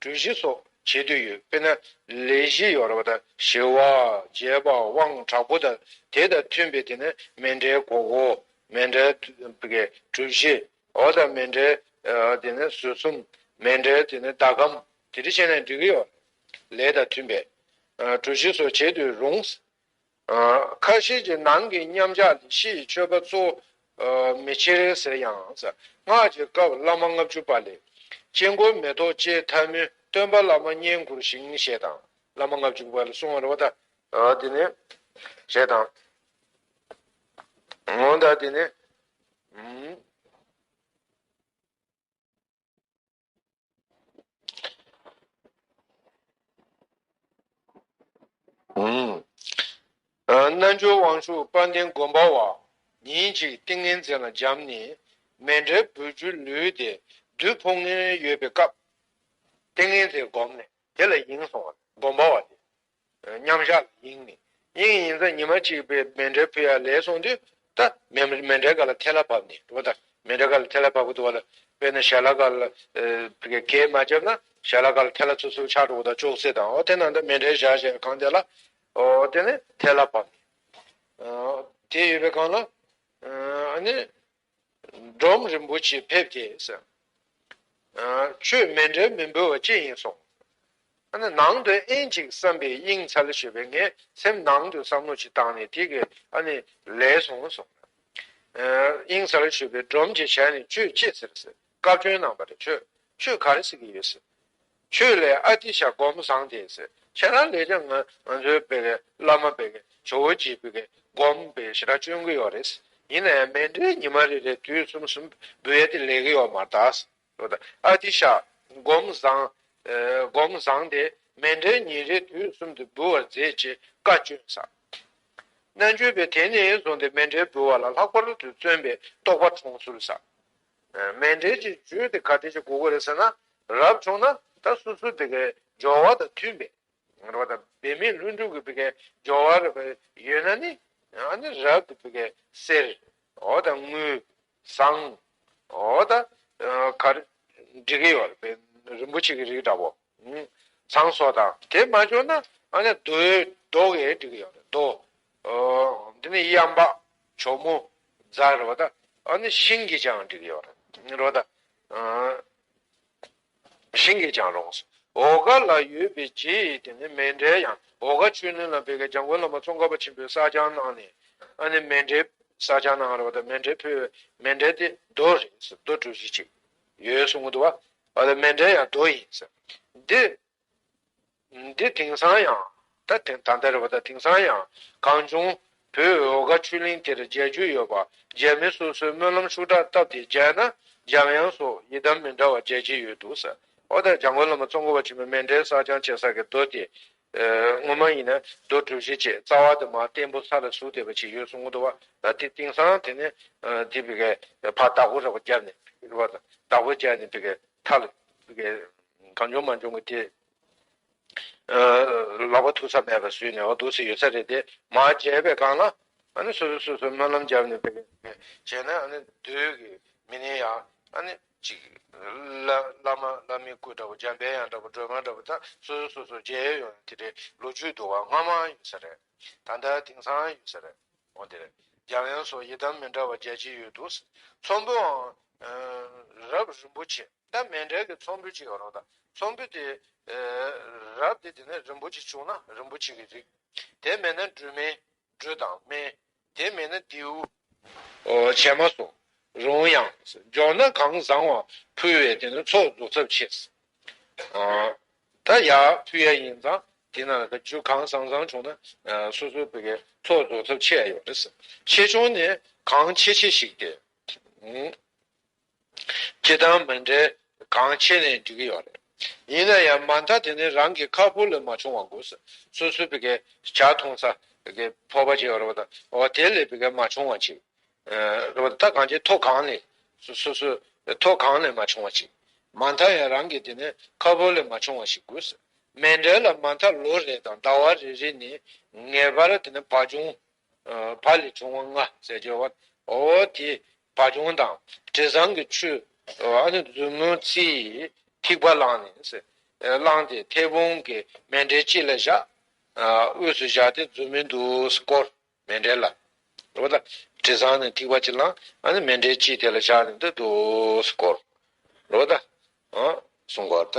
གྲོས་གཞི་སོགས་བྱེད་འདོད་ཡོད་དཔེར་ན་ལས་གཞི་ཡོ་རོ་པ་དང་ཞི་བ་རྒྱས་པ་དབང་དྲག་པོ་དང་དེ་དང་མཐུན་པའི་དེ་ནི་མེ་འདྲའི་སྒོ་བོ། མེ་འདྲའི་གྲུ་བཞི། འོ་དང་མེ་འདྲའི་དེ་ནི་ཟུར་གསུམ། མེ་འདྲའི་དེ་ནི་ཟླ་གམ། དེ་འདྲ་བྱས་ནས་འགྲིག་གི་ཡོད། ལས་དང་མཐུན་པའི། གྲོས་གཞི་སོགས་བྱེད་འདོད་རུང། ཁ་ཤས་ཀྱིས་ནང་གི་མཉམ་གཞག་ནི་ཕྱི་ཡི་མཆོད་པ་གཙོ་མི་ཕྱིར་ཟེར་ཡང། སྔགས་ཀྱི་སྐབས་བླ་མ་ལྔ་བཅུ་པ་ལས། དཀྱིལ་འཁོར་མེ་ཏོག་བཅས་མཐའི་མུན་སྟོན་པ་བླ་མ་བསྙེན་བཀུར་ཞིང་ཞེས་དང། བླ་མ་ལྔ་བཅུ་པ་ལ་གསུང་བར་བ་དང། དེ་ནས། ཞེས་དང། འོན་ཏེ་དེ་ནི། རྣལ་འབྱོར་དབང་ཕྱུག་དཔལ་ལྡན་མགོན་པོ་བ། ཉིན་གཅིག་ཏིང་ངེ་འཛིན་ལ་འབྱམས་ནས། མེ་འབྲས་བུ་བཅུ་ལུས་ཏེ་བདུད་ཕོ་ངན་ཡོད་པའི་སྐབས། ཏིང་ངེ་འཛིན་བསྒོམས་ནས་དེ་ལ་ཡེངས་སོང་བ་ལས་མགོན་པོ་བ་དེས། མཉམ་བཞག་ལ་དབྱིངས་ནི་དབྱིངས་ཡིན་ཙང་ཉི་མ་གཅིག་པའི་མེ་འདྲའི་ཕུ་ཡར་ལེ་སོང་དུས་ད་མེ་མེ་འདྲའི་ག་ལ་ཐལ་ལ་བབས་ནས་འགྲོ་ད་མེ་འདྲའི་ག་ལ་ཐལ་ལ་བབས་འགྲོ་ད་དཔེར་ན་ཞལ་ལ་ག་ལ་གས་མ་བརྒྱབ་ན་ཞལ་ལ་ག་ལ་ཐལ་ལ་ཚུར་ཚུར་ཆགས་འགྲོ་ད་ཅོག་ཙེ་དང་འོ་དེ་ན་ད་མེ་འདྲའི་ཞག་ཞེས་པའི་གང་དེ་ལ་འོ་དེ་ནི་ཐལ་ལ་བབས་ནས་དེ་ཡོད་པའི་གང་ལ་ཨ་ནི། འབྲོམ་རིན་པོ་ཆེ་ཕེབས་ཏེ། ཆོས་མེད་འབྲེལ་མི་འབུལ་བ་ཅི་ཡིན་གསུངས། ནང་དུ་ཨེན་ཅིག་བསམ་པའི་དབྱིངས་འཚལ་ཞེས་པའི་ངས་སེམས་ནང་དུ་བསམ་བློ་ཅིག་བཏང་ནས་དེ་གས་ལས་སོང་གསུངས། དབྱིངས་འཚལ་ཞེས་པའི་སྒྲོམ་གྱིས་བྱས་ནས་ཁྱོད་ཅི་ཟེར་ཟེར། བཀའ་བཀྱོན་གནང་པ་རེད་ཁྱོད་ཆོས་ག་རེ་ཟེར་གྱི་ཡོད་ཟེར། ཁྱོད་ལས་ཨ་ཏི་ཤ་སྒོར་མོ་བཟང་དེ་ཟེར་ཁྱེད་རང་ལས་ཀྱང་ང་ཚོའི་བོད་ཀྱི་བླ་མ་བོད་ཀྱི་ཇོ་བོ་རྗེས་བོད་ཀྱི་སྒོར་མོ་བེད་ཤི་ར་བཅོན་གྱི་ཡོད་རེད་ཟེར་ཡིན་ན་ཡང་མེ་འབྲས་ཉི་མ་རེ་རེ་དུས་གསུམ་གསུམ་བེད་དེ་ལས་གི་ཡོད་མ་ད་ཟེར་ཨོ་ད་ཨ་ཏི་ཤ་སྒོར་མོ་བཟང་སྒོར་མོ་བཟང་དེ་མེ་འབྲས་ཉིན་རེ་དུས་གསུམ་དུ་འབུལ་བར་མཛད་ཅེས་བཀའ་བཀྱོན་ས་རྣ་འཇོལ་བས་དེ་ནས་བཟུང་སྟེ་མེ་འབྲས་འབུལ་བ་ལ་ལྷག་པར་དུ་བརྩོན་པའི་རྟོགས་པ་འཁྲུངས་ཚུལ་ས་མེད་འབྲེལ་གྱི་རྒྱུད་དེ་ག་དེ་ཅིག་གོ་དགོས་རེད་ཟེར་ན། རབ་བྱུང་ན་ད་སོ་སོའི་དེ་གའི་སྦྱོར་བ་དང་མཐུན་པའི། རེ་བ་དང་འབད་མེད་ལྷུན་གྲུབ་ཀྱི་དེ་གའི་སྦྱོར་བ་རེ་བ་ཡོད་ན་ནི། ཨ་ནི་རབ་ཏུ་དེ་གའི་གསེར། འོ་དང་དངུལ། ཟངས། འོ་དང། གར། འགྲིག་གི་ཡོད་རེད་པས་རིན་པོ་ཆེ་གི་རིགས་འདྲ་བོ། ཚངས་སོགས་དང། དེ་མ་འབྱོར་ན་ཨ་ནི་རྡོའི་རྡོ་ཡེ་འབྲི་གི་ཡོད་རེད་རྡོ། འདི་ནི་གཡང་འབག་གྱོ་མོ་རྫ་རེད་བ་ད། ཨ་ནི་ཤིང་གིས་ཀྱང་འབྲི་གི་ཡོད་རེད་རོ་ད། ཤིང་གིས་ཀྱང་རུང་སོ། འོ་ག་ལ་ཡོད་པའི་རྗེ་ཡིས་དེ་ནི་མེ་འདྲའི་གཡང་འོ་ག་ཆོས་ནུས་ལ་འབེལ་གི་འཇང་དགོན་ལ་མ་ཙོང་ཁ་པ་ཆེན་པོས་བསགས་སྦྱང་གནང་ནས་ཨ་ནི་མེ་འདྲའི་བསགས་སྦྱང་གནང་རེད་བ་ད་མེ་འདྲའི་ཕུལ་བའི་མེ་འདྲའི་དེ་རྡོ་རེད་རྡོ་གྲུ་བཞི་གཅིག། ཡོད་གསུང་གི་འདུག་བ། ཨ་ལ་མན་དྲན་ཡང་དོ་ཡིན། འདི། འདི་དེང་སང་ཡང། ད་དེ་ད་ལྟ་རེད་བ་ད་དེང་སང་ཡང། གང་བྱུང། བོད་འོལ་དགའ་ཆོས་གླིང་དེར་མཇལ་རྒྱུ་ཡོད་པ། མཇལ་མི་སོ་སོའི་སྨོན་ལམ་ཤུགས་དྲག་སྟབས་དེ་མཇལ་ན། འཇམ་དབྱངས་སོགས་ཡི་དམ་མི་འདྲ་བ་མཇལ་གྱི་ཡོད་འདུག། ཨོ་ད་འཇམ་མགོན་བླ་མ་གཙོ་འཁོར་བ་ཆེན་མོའི་མན་དྲན་བསགས་སྦྱང་བྱེད་ས་གི་རྡོ་དེ། སྔོན་མ་ཡིན་ན་རྡོ་གྲུབ་བཞི་བཅས་རྩ་བ་དུ་མ་བརྟན་པོ་ས་ལ་ཟུག་བསྡད་པ་ཅིག་ཡོད་གསུང་གདུང་བ་ད་དེ་དེང་སང་དེ་ནས་དེ་བི་ཀའི་ཕ་བདག་པོ་རེ་བ་བརྒྱབ་ནས་རེ་བ་དང་བདག་པོ་བརྒྱབ་ནས་བི་ཀའི་མཐའ་ལ་བི་ཀའི་གང་བྱུང་མ་བྱུང་གི་དེ་ལག་པ་ཐུག་ས་མེད་པར་བཟོས་ནས་འོ་དུག་སེ་ཡོད་ས་རེད་དེ་མ་བརྗེད་པའི་སྒང་ལ་ཨ་ནི་སོ་སོས་སོ་སོའི་སྨོན་ལམ་བརྒྱབ་ནས་བི་ཀའི་བྱས་ན་ཨ་ནི་བདུད་ཀྱི་མི་ནི་ཡང་ཨ་ནི། ཅིག། བླ་མ་བླ་མའི་སྐུ་འདྲ་བོ་འཇམ་དཔལ་དབྱངས་འདྲ་བོ་སྒྲོལ་མ་འདྲ་བོ་དག་སོ་སོའི་སོ་སོའི་མཇལ་ཡས་ཡོང་ཡང་དེ་འདྲའི་ལོ་རྒྱུས་དུ་བ་སྔ་མའང་ཡོད་ས་རེད། ད་ལྟ་དེང་སང་ཡོད་ས་རེད། འོ་དེ་རེད། འཇམ་དབྱངས་སོགས་ཡི་དམ་མི་འདྲ་བ་རྒྱལ་གཅིག་ཡོད་འདུག། ཚོམ་བུའང། རབ་རིན་པོ་ཆེ་ལྟ་མན་འབྲལ་གྱི་ཚོམ་བུ་ཅིག་ཡོད་རོགས་ཟླ། ཚོམ་བུ་དེ། རབ་དེ་དེ་ནས་རིན་པོ་ཆེ་བྱུང་ན་རིན་པོ་ཆེ་གི་རིགས། དེ་མེད་ན་སྦྲུལ་སྨན། སྦྲུལ་དང་སྨན། དེ་མེད་ན་རྡེའུ། བྱས་མ་སོང། རུང་ཡང། འབྱོར་ན་གང་བཟང་བ་ཕུལ་བས་དེ་ནི་ཚོགས་འཛུགས་ཚབས་ཆེས། ད་ཡ། ཕུལ་ཡ་ཡིན་ཙང་དེ་ན་རྒྱུ་གང་བཟང་བཟང་བྱུང་ན་སོ་སོའི་བུ་གའི་ཚོགས་འཛུགས་ཚབས་ཆེ་ཡ་ཡོད་རེད། ཆེ་ཆུང་ནི་གང་ཆེ་ཆེ་ཞིག་སྟེ། ཁྱེད་དང་མི་འབྲལ་གང་ཆེ་ནས་འགྲིག་གི་ཡོད་རེད། ཡིན་ན་ཡང་མ་མཐའ་དེ་ནི་རང་གི་ཁ་ཕོ་ལས་མ་བྱུང་བ་དགོས། སོ་སོའི་བི་གའི་བྱ་མཐོང་ས་གི་ཕོར་པ་ཅིག་རེད་པ་དང་འོ་དེ་ལས་བི་ག་མ་བྱུང་བ་ཅིག་རེད་པ་དང་ད་གང་ཅིའི་ཐོག་གང་ནས་སོ་སོའི་ཐོག་གང་ནས་མ་བྱུང་བ་ཅིག་མ་མཐའ་ཡང་རང་གི་དེ་ནི་ཁ་ཕོ་ལས་མ་བྱུང་བ་ཞིག་དགོས། མི་འབྲལ་ལ་མ་མཐའ་ལོ་རེ་དང་ཟླ་བ་རེ་རེ་ནས་ངེས་པར་དེ་ནི་བག་ཆུང་བ་ལས་བྱུང་བ་ལྔ་ཟས་སྦྱོར་བ། འོ་དེ་བ་བྱུང་དང་དྲི་བཟང་གི་ཆུ། མཛུབ་མོ་ཚིགས་ཐིགས་པ་བླངས་ནས། བླངས་ཏེ་མཐེ་བོང་གི་མེ་འབྲས་ལྕེ་ལ་བཞག། དབུས་སུ་བཞག་སྟེ་མཛུབ་མོས་འདུག་བསྐོར་མེ་འབྲས་ལ། འོ་ད་དྲི་བཟང་ནི་ཐིགས་པ་གཅིག་བླངས། མེ་འབྲས་ལྕེ་དེ་ལ་བཞག་ནས་འདུག་བསྐོར། འོ་ད། སུ་འགོག་ད།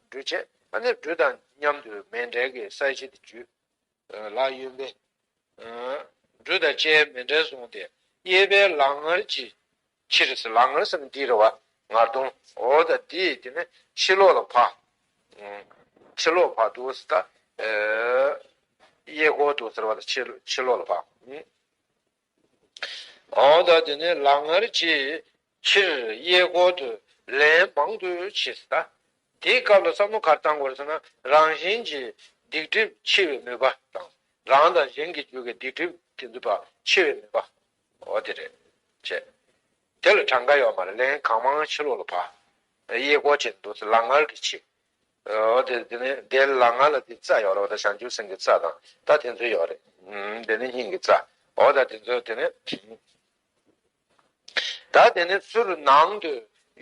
འགྲུལ་བྱེད་པ་ནི་འགྲུལ་དང་མཉམ་དུ་མེ་འབྲེལ་གྱི་ས་གཞི་དེ་བརྒྱུད། ལག་གཡོན་པས། འགྲུལ་དང་ལྕེའི་མེ་འབྲེལ་བཟུང་སྟེ་གཡས་པས་ལག་ངར་གྱི་ཕྱིར་ཟེར་ལག་ངར་ཟེར་ན་འདིའི་རེ་བ་ངར་གདོང་འོ་ད་འདི་དེ་ནི་ཕྱི་ལོགས་ལ་བག། ཕྱི་ལོགས་བག་འདུག་ཟེར་ད། གཡས་སྐོར་འདུག་ཟེར་བ་ལ་ཕྱི་ལོགས་ལ་བག། གང་དག་དེ་ནས་ལག་ངར་གྱིས་ཕྱིར་གཡས་སྐོར་དུ་ལན་མང་དུ་བྱས་ལ། དེའི་སྐབས་ལ་ས་མོ་གར་བཏང་གོ་ཟེར་ན་རང་བཞིན་གྱིས་སྡིག་སྒྲིབ་འཆི་བའི་ནུས་པ་དང་རང་དང་གཞན་གྱི་རྒྱུད་ཀྱི་སྡིག་སྒྲིབ་དེ་འདུས་པ་འཆི་བའི་ནུས་པ་འོ་དེ་རེད། ཅེས་དེ་ལ་གྲངས་ཀ་ཡོད་མ་རེད་ལན་གང་མང་ཕྱི་ལོགས་ལ་བབས། གཡས་སྐོར་བྱས་ནས་འདུག་ལག་ངར་གྱིས་ཕྱིར་འོ་དེ་དེ་ནི་དེ་ལ་ང་ལ་དེའི་རྩ་ཡོད་རེད་ད་བྱང་ཆུབ་སེམས་ཀྱི་རྩ་དང་ད་དེ་ཚོ་ཡོད་རེད་དེ་ནི་སྙིང་གི་རྩ་འོ་ད་དེ་ཚོ་དེ་ནི་ད་དེ་ནི་ཚུར་ནང་དུ་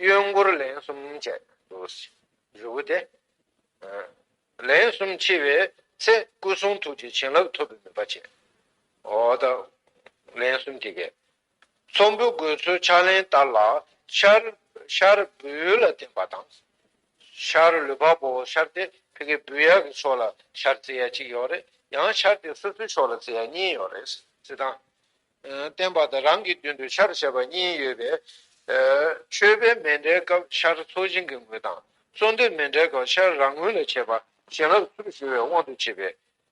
གཡོན་སྐོར་ལན་གསུམ་བྱས་འདུག་རི་བོ་དེ་ལན་གསུམ་ཕྱེ་བའི་ཚེ་སྐུ་གསུང་ཐུགས་ཀྱི་བྱིན་རླབས་ཐོབ་པའི་ནུས་པ་བྱས་འོ་ད་ལན་གསུམ་དེ་གས་ཚོམ་བུའི་དགོས་ཚུལ་ཕྱག་ལེན་ལྟར་ལ། ཤར་བུལ་ལ་བརྟེན་པ་དང། ཤར་ལུས་བག་པོ་བོ་ཤར་ཏེ་ཕི་ཀའི་བུལ་ཡར་གྱི་ཕྱོགས་ལ་ཤར་རྩེ་ཡར་གཅིག་ཡོད་རེད། ཡང་ཤར་དེ་སོ་སོའི་ཕྱོགས་ལ་རྩེ་ཡར་གཉིས་ཡོད་རེད། ཚེ་དང། བརྟེན་པ་དང་རང་གི་མདུན་དུ་ཤར་བྱེད་པ་གཉིས་ཡོད་པས། མཆོད་པའི་མེ་འདྲའི་སྐབས་ཤར་ཚོགས་བྱིན་གྱི་ངོས་དང། གསོལ་འདེབས་མེ་འདྲའི་སྐབས་ཤར་རང་ངོས་ལ་བྱེད་པ་བྱིན་རླབས་ཚུར་ཞུ་བའི་དབང་དུ་བྱས་པས།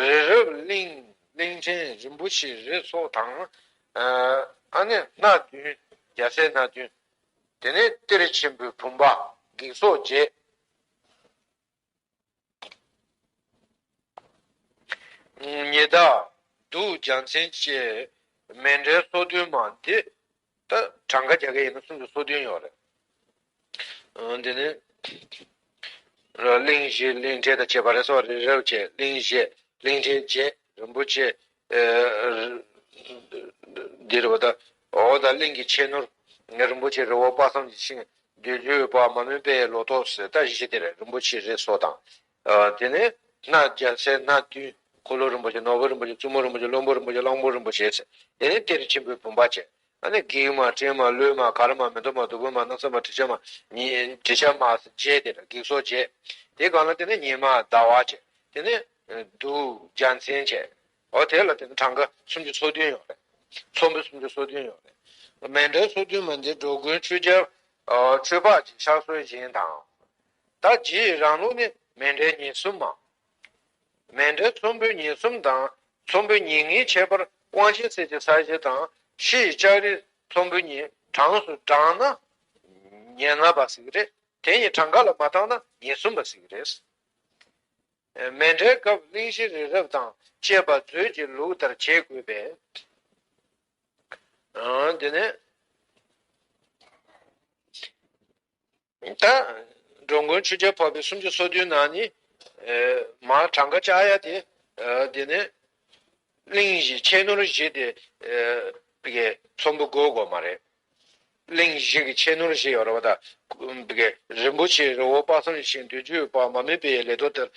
རི་རབ་གླིང་གླིང་ཕྲན་རིན་པོ་ཆེ་རི་སོགས་དང། ཨ་ནི་སྣ་བདུན་རྒྱ་ཚད་སྣ་བདུན། དེ་ནས་གཏེར་ཆེན་པོའི་བུམ་པ་བགེགས་སོགས་བརྒྱད། ཉི་ཟླ་གདུགས་ལྗང་ཚན་བཅས་མེ་འབྲས་སོ་བདུན་མ་འདི་ད་གྲངས་ཀ་རྒྱ་སྐད་ཡིན་ན་སུམ་ཅུ་སོ་བདུན་ཡོད་རེད། འདི་ནི། གླིང་བཞི་གླིང་ཕྲན་དང་བཅས་པ་རེད་སོགས་རེད་རེད་བྱས་གླིང་བཞི་གླིང་ཕྲན་བརྒྱད་རིན་པོ་ཆེ། འདི་རེད་བ་ད། འོ་ད་གླིང་གི་ཆེ་ནུར། རིན་པོ་ཆེ་རི་བོ་དཔག་བསམ་གྱི་ཤིང། བདུད་འཇོའི་པདྨ་མོན་པའི་ལོ་ཏོག། ཟེར་ད་བཞི་ཆ་དེ་རེད་རིན་པོ་ཆེ་རེད་སོགས་དང། དེ་ནས་སྣ་བརྒྱ་ཚད་སྣ་བདུན། འཁོར་ལོ་རིན་པོ་ཆེ་ནོར་བུ་རིན་པོ་ཆེ་བཙུན་མོ་རིན་པོ་ཆེ་བློན་པོ་རིན་པོ་ཆེ་གླང་པོ་རིན་པོ་ཆེ་ཟེར། དེ་ནས་གཏེར་ཆེན་པོའི་བུམ་པ་བཅས། ཨ་ནི་བགེགས་མ་སྤྲིན་མ་ཀླུའི་མ་གར་མ་མི་འདོད་མ་བདུད་པོའི་མ་སྣག་ཚ་མ་དྲི་ཆབ་མ། དྲི་ཆབ་མ་བཅས་དེ་ལ་བགེགས་སོགས་བཅས། དེ་གང་ལ་དེ་ནས་ཉི་མ་ཟླ་བ་བཅས། དེ་ནས་གདུགས་བརྒྱ་མཚན་བཅས། འོ་དེ་ལ་དེ་ནས་གྲངས་ཀ་སུམ་ཅུ་སོ་བདུན་ཡོད་རེད། ཚོམ་བུ་སུམ་ཅུ་སོ་བདུན་ཡོད་རེད། མེ་འབྲས་སོ་བདུན་མ་འདི་འགྲོ་ཀུན་ཆོས་རྒྱལ། ཆོས་འཕགས་ཀྱི་ཕྱག་སྲོལ་བཞིན་དང། ད་རྗེས་རང་ལུགས་ནི་མེ་འབྲས་ཉིན་གསུམ་མམ། མེ་འབྲས་ཚོམ་བུའི་ཉིན་གསུམ་དང་ཚོམ་བུའི་ཉིན་ལྔའི་ཁྱད་པར་དབང་ཆེན་གསེར་གྱི་ས་གཞི་དང་ཕྱི་ཡི་ལྕགས་རིའི་ཚོམ་བུ་གཉིས་གྲངས་སུ་བགྲངས་ན་ཉེར་ལྔ་པ་ཟིག་རེད། དེ་གཉིས་གྲངས་ཀ་ལ་མ་བརྟགས་ན་ཉིན་གསུམ་པ་ཟིག་རེད། མེ་འབྲས་སྐབས་གླིང་བཞི་རི་རབ་དང་བཅས་པ་མཛོད་ཀྱི་ལུགས་ལྟར་བྱེད་དགོས་པས། འདི་ནི། ད། འགྲོ་མགོན་ཆོས་རྒྱལ་འཕགས་པའི་སུམ་ཅུ་སོ་བདུན་ནང་ནི། མ་གྲངས་ཀ་ལྕགས་གཡའ་དེ། དེ་ནས། གླིང་བཞི་ཁྱད་ནོར་བཞི་སྟེ། ཚོམ་བུ་དགོས་དགོས་མ་རེད། གླིང་བཞི་གི་ཁྱད་ནོར་བཞི་ཡོད་རེད་བ་ད། རིན་པོ་ཆེའི་རི་བོ་དཔག་བསམ་ཤིང་བདུན་ཅུའི་བར་མ་མེད་པའི་ལས་ཐོག་དེར།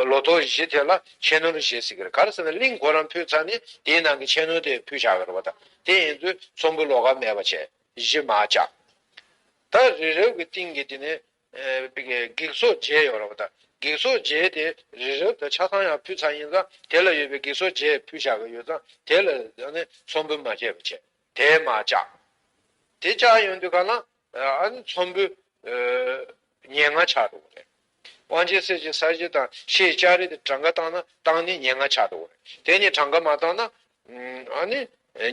ལོ་ཐོག་བཞི་དེ་ལ་ཁྱད་ནོར་བཞི་ཟེར་གི་རེད་ག་རེ་ཟེར་ན་གླིང་གོ་རམ་ཕུལ་ཚར་ནས་དེའི་ནང་གི་ཁྱད་ནོར་དེ་ཕུལ་བཞག་གི་རེད་བ་ད། དེ་ཡིན་དུས་ཚོམ་བུ་ལོ་ག་མེད་པ་བྱས་བཞི་མ་བཅག། ད་རི་རབ་ཀྱི་སྟེང་གི་དེ་ནས། བགེགས་ཚོགས་བརྒྱད་ཡོད་ར་བ་ད། བགེགས་ཚོགས་བརྒྱད་དེ་རི་རབ་ད་ཆ་གང་ཡང་ཕུད་ཚར་ཡིན་ཙང་དེ་ལ་ཡོད་པའི་བགེགས་ཚོགས་བརྒྱད་ཕུད་བཞག་གི་ཡོད་ཙང་དེ་ལ་ཡང་ནི་ཚོམ་བུ་མ་བཅད་པ་བྱས། དེ་མ་བཅག། དེ་བཅག་ཡོང་དུས་ག་ན་ཨ་ནི་ཚོམ་བུ། ཉེར་ལྔ་ཆགས་འགྲོ་གི་རེད། དབང་ཆེན་གསེར་གྱི་ས་གཞི་དང་ཤེས་ལྕགས་རི་དེ་གྲངས་ཀ་བཏང་ན་བཏང་ནི་ཉེར་ལྔ་ཆགས་འགྲོ་གི་རེད། དེ་ནི་གྲངས་ཀ་མ་བཏང་ན། ཨ་ནི་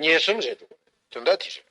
ཉེར་གསུམ་རེད་འགྲོ་གི་རེད་དོན་དག་དེ་རེད།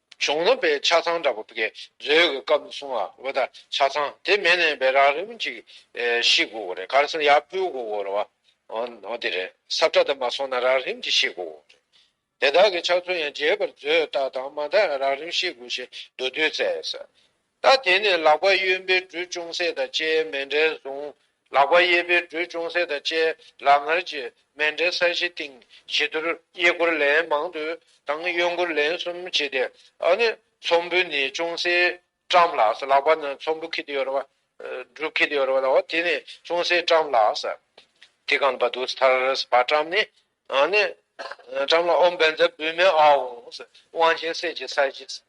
གཞུང་ལམ་པའི་ཆ་ཚང་འདྲ་པོ་བགད་མཛོད་གི་སྐབས་ནས་བཟུང་ང་འོད་ད་ཆ་ཚང་དེ་མེད་ནས་བེ་རག་རིམ་གཅིག་ཤི་དགོས་གོ་རེད་ག་རེ་སོང་ཡར་འཕུལ་དགོས་གོ་རེད་བ་འོ་དེ་རེད་སབ་ཁྲ་དེ་མ་སོང་ན་རག་རིམ་གཅིག་ཤི་དགོས་གོ་རེད་དེ་དག་གི་ཆགས་ཚུལ་ཡང་རྗེས་པར་མཛོད་ལྟ་དང་མ་མཐའ་ཡང་རག་རིམ་ཤི་དགོས་ཞེས་མདོ་བསྡུས་བསྩལ། ད་དེ་ནས་ལག་པ་གཡོན་པས་འབྲུ་ཅུང་ཟད་དང་བཅས་མལ་འབྲེལ་བཟུང། ལག་པ་གཡས་པས་འབྲུ་ཅུང་ཟད་དང་བཅས་ལག་ངར་གྱིས་མལ་འབྲེལ་ས་གཞི་བཏིང། བྱི་དོར་གཡས་བསྐོར་ལན་མང་དུ་དང་གཡོན་བསྐོར་ལན་གསུམ་བྱས་ཏེ། ཚོམ་བུ་ནས་ཅུང་ཟད་བཀྲམ་ལགས། ལག་པ་ན་ཚོམ་བུ་ཁེལ་དུ་ཡོད་རེད། འབྲུ་ཁེལ་དུ་ཡོད་རེད། དེ་ནས་ཅུང་ཟད་བཀྲམ་ལགས། དེ་གང་བ་དུ་ཐར་བ་བཀྲམ་ནས། བཀྲམ་ལ་ཨོ་འབན་ཛ་བུད་མེད་ཨའོ། དབང་ཆེན་སྲས་ཀྱི་ས་གཞི།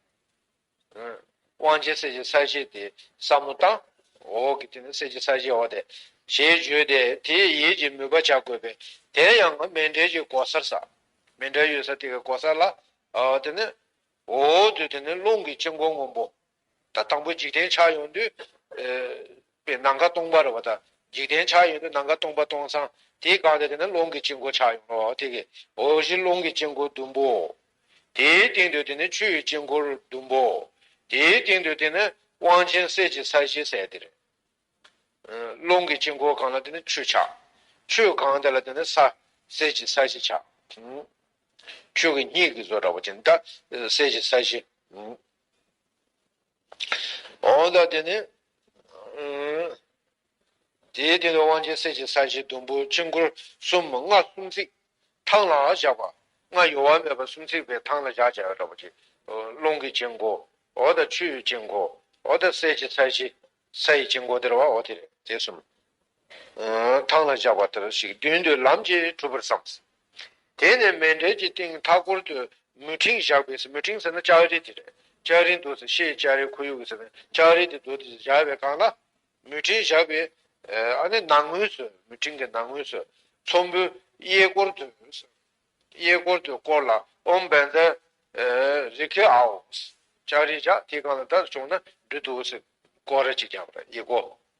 དབང་བྱེད་གསེར་གྱི་ས་གཞི་དེ་སྲབ་མོ་དང། འོག་གི་དེ་ནི་གསེར་གྱི་ས་གཞི་འོག་སྟེ། ཞེས་བརྗོད་དེ་དེས་ཡིད་ཀྱིས་མོས་པ་བྱ་དགོས་པས་དེ་ཡང་མེ་འབྲས་ཀྱི་གོ་སར་བསགས། མེ་འབྲས་ཡོད་ས་དེ་གའི་གོ་སར་ལ། དེ་ནི། འོག་ཏུ་དེ་ནི་རླུང་གི་དཀྱིལ་འཁོར་སྔོན་པོ། དང་པོ་འཇིག་རྟེན་ཆགས་ཡོང་དུས། པའི་ནམ་མཁའ་སྟོང་པར་བ་དང། འཇིག་རྟེན་ཆགས་ཡོད་དུ་ནམ་མཁའ་སྟོང་པ་སྟོང་སང་དེའི་སྒང་དེ་དེ་ན་རླུང་གི་དཀྱིལ་འཁོར་ཆགས་ཡོང་ལོ། དེ་གི་འོག་གཞི་རླུང་གི་དཀྱིལ་འཁོར་ཟླུམ་པོའོ། དེའི་སྟེང་དུ་དེ་ནི་ཆུ་ཡི་དཀྱིལ་འཁོར་ཟླུམ་པོའོ། དེའི་སྟེང་དུ་དེ་ནི་དབང་ཆེན་གསེར་གྱི་ས་གཞི་གསལ་ཏེ། རླུང་གི་དཀྱིལ་འཁོར་གང་ལ་དེ་ནི་ཆུ་ཆགས། ཆུའི་གང་དེ་ལ་དེ་ནི་ས། གསེར་གྱི་ས་གཞི་ཆགས། ཆོས་ཀྱི་སྙིང་གི་བཟོ་འདྲ་བ་ཅན་དག་གསེར་གྱི་ས་གཞི། འོང་ལ་དེ་ནི། དེའི་སྟེང་དུ་དབང་ཆེན་གསེར་གྱི་ས་གཞི་ཟླུམ་པོ་དཀྱིལ་འཁོར་གསུམ་མོ་ལྔ་གསུམ་ཚིགས་ཐང་ལ་བཞག་པ། ལྔ་གཡོ་བ་མེད་པར་གསུམ་ཚིགས་པའི་ཐང་ལ་བཞག་ཅེས་བྱ་བ་ཀྱི། རླུང་གི་དཀྱིལ་འཁོར་འོ་དང་ཆུའི་དཀྱིལ་འཁོར་འོ་དང་གསེར་གྱི་ས་གཞི་ས་ཡི་དཀྱིལ་འཁོར་དེར་བ་འོ་དེ་རེད་དེ་གསུམ། ཐང་ལ་བཞག་པ་ལྟར་ཞིག་མདུན་དུ་ལམ་གྱིས་གྲུབ་པར་བསམས། དེ་ནས་མལ་འབྲེལ་གྱི་སྟེང་མཐའ་སྐོར་དུ་མུ་ཕྲེང་བཞག་པས་མུ་ཕྲེང་ཟེར་ན་ལྕགས་རི་དེ་རེད། ལྕགས་རིའི་མདོ་ཟེར་ཤེས་ལྕགས་རིའི་ཁོར་ཡུག་ཟེར་ན་ལྕགས་རི་དེ་མདོ་དེ་བཞག་པའི་སྒང་ལ། མུ་ཕྲེང་བཞག་པའི་ནང་ངོས་སུ་མུ་ཕྲེང་གི་ནང་ངོས་སུ་ཚོམ་བུ་གཡས་སྐོར་དུ་གཡས་སྐོར་དུ་བསྐོར་ལ་ཨོམ་བན་དྷ་རི་ཁའི་ཨའོ། ལྕགས་རི་བཞག་དེའི་སྒང་ལ་ད་བྱུང་ན་འབྲུ་དུག་ཟེར་སྐོར་ར་གཅིག་བརྒྱབ་པ་ཡི་གོ།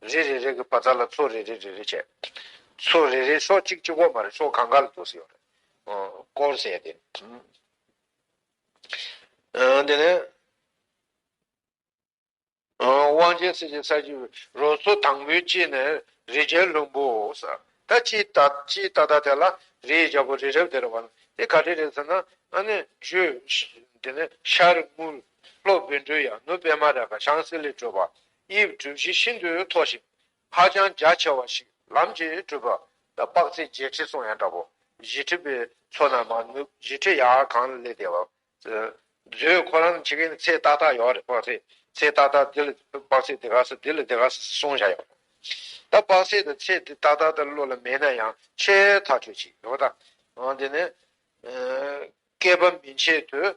རེ་རེ་རེ་གི་བ་ཚྭ་ལ་ཚོ་རེ་རེ་རེ་རེ་བྱས། ཚོ་རེ་རེ་སོ་གཅིག་གཅིག་བོ་མ་རེད་སོ་གང་ག་ལ་འདུག་ཟེར་བ་རེད། སྐོར་བྱས་ཏེ། དེ་ནས། དབང་ཆེན་སྲས་ཀྱི་ས་བཅུ་པའི་རོ་ཚོ་དང་པོའི་དཔྱིད་ནས་རི་རྒྱལ་ལྷུན་པོ་སར་ད་དཔྱིད་ད་དཔྱིད་ད་ད་དེ་ལ་རི་ཡི་རྒྱལ་པོ་རི་རབ་དེར་བ་ལ་དེ་ག་དེ་རེད་ཟེར་ན་ཨ་ནི་བཞུད། དེ་ནས་ཤར་དངུལ་ལྷོ་བོད་འགྲུལ་ཡང་ནུབ་པད་མ་ར་ག་ཤང་སི་ལི་བྲོས་པ་དབྱིབས་གྲུ་བཞི་ཤིན་ཏུ་མཐོ་ཞིང་ཧ་ཅང་རྒྱ་ཆེ་བ་ཞིག་ལམ་གྱིས་བསྐྲུན་པ། དཔག་ཚད་བརྒྱད་ཁྲི་སོང་ཡང་འདྲ་བོ། བཞི་ཁྲི་པའི་མཚོ་ན་མ་ནུབ་བཞི་ཁྲི་ཡར་གངས་ལས་འདས་པ། མཛོད་ཁོ་རང་ཁྱི་གིན་ཚེ་ཏག་ཏག་ཡོད་རེད་དཔག་ཚད་ཚེ་ཏག་ཏག་འདི་ལ་དཔག་ཚད་འདི་ག་ས་འདི་ལ་འདི་ག་ས་གསུང་བཞག་ཡོད་རེད། ད་དཔག་ཚད་དང་ཚེ་འདི་ཏག་ཏག་ད་བློ་ལ་མེད་ན་ཡང་ཆེས་ཐག་ཆོད་ཅིག་ཡོད་དཱ། འོན་ཏེ་ནི། བསྐལ་པ་མི་འཆད་དུས།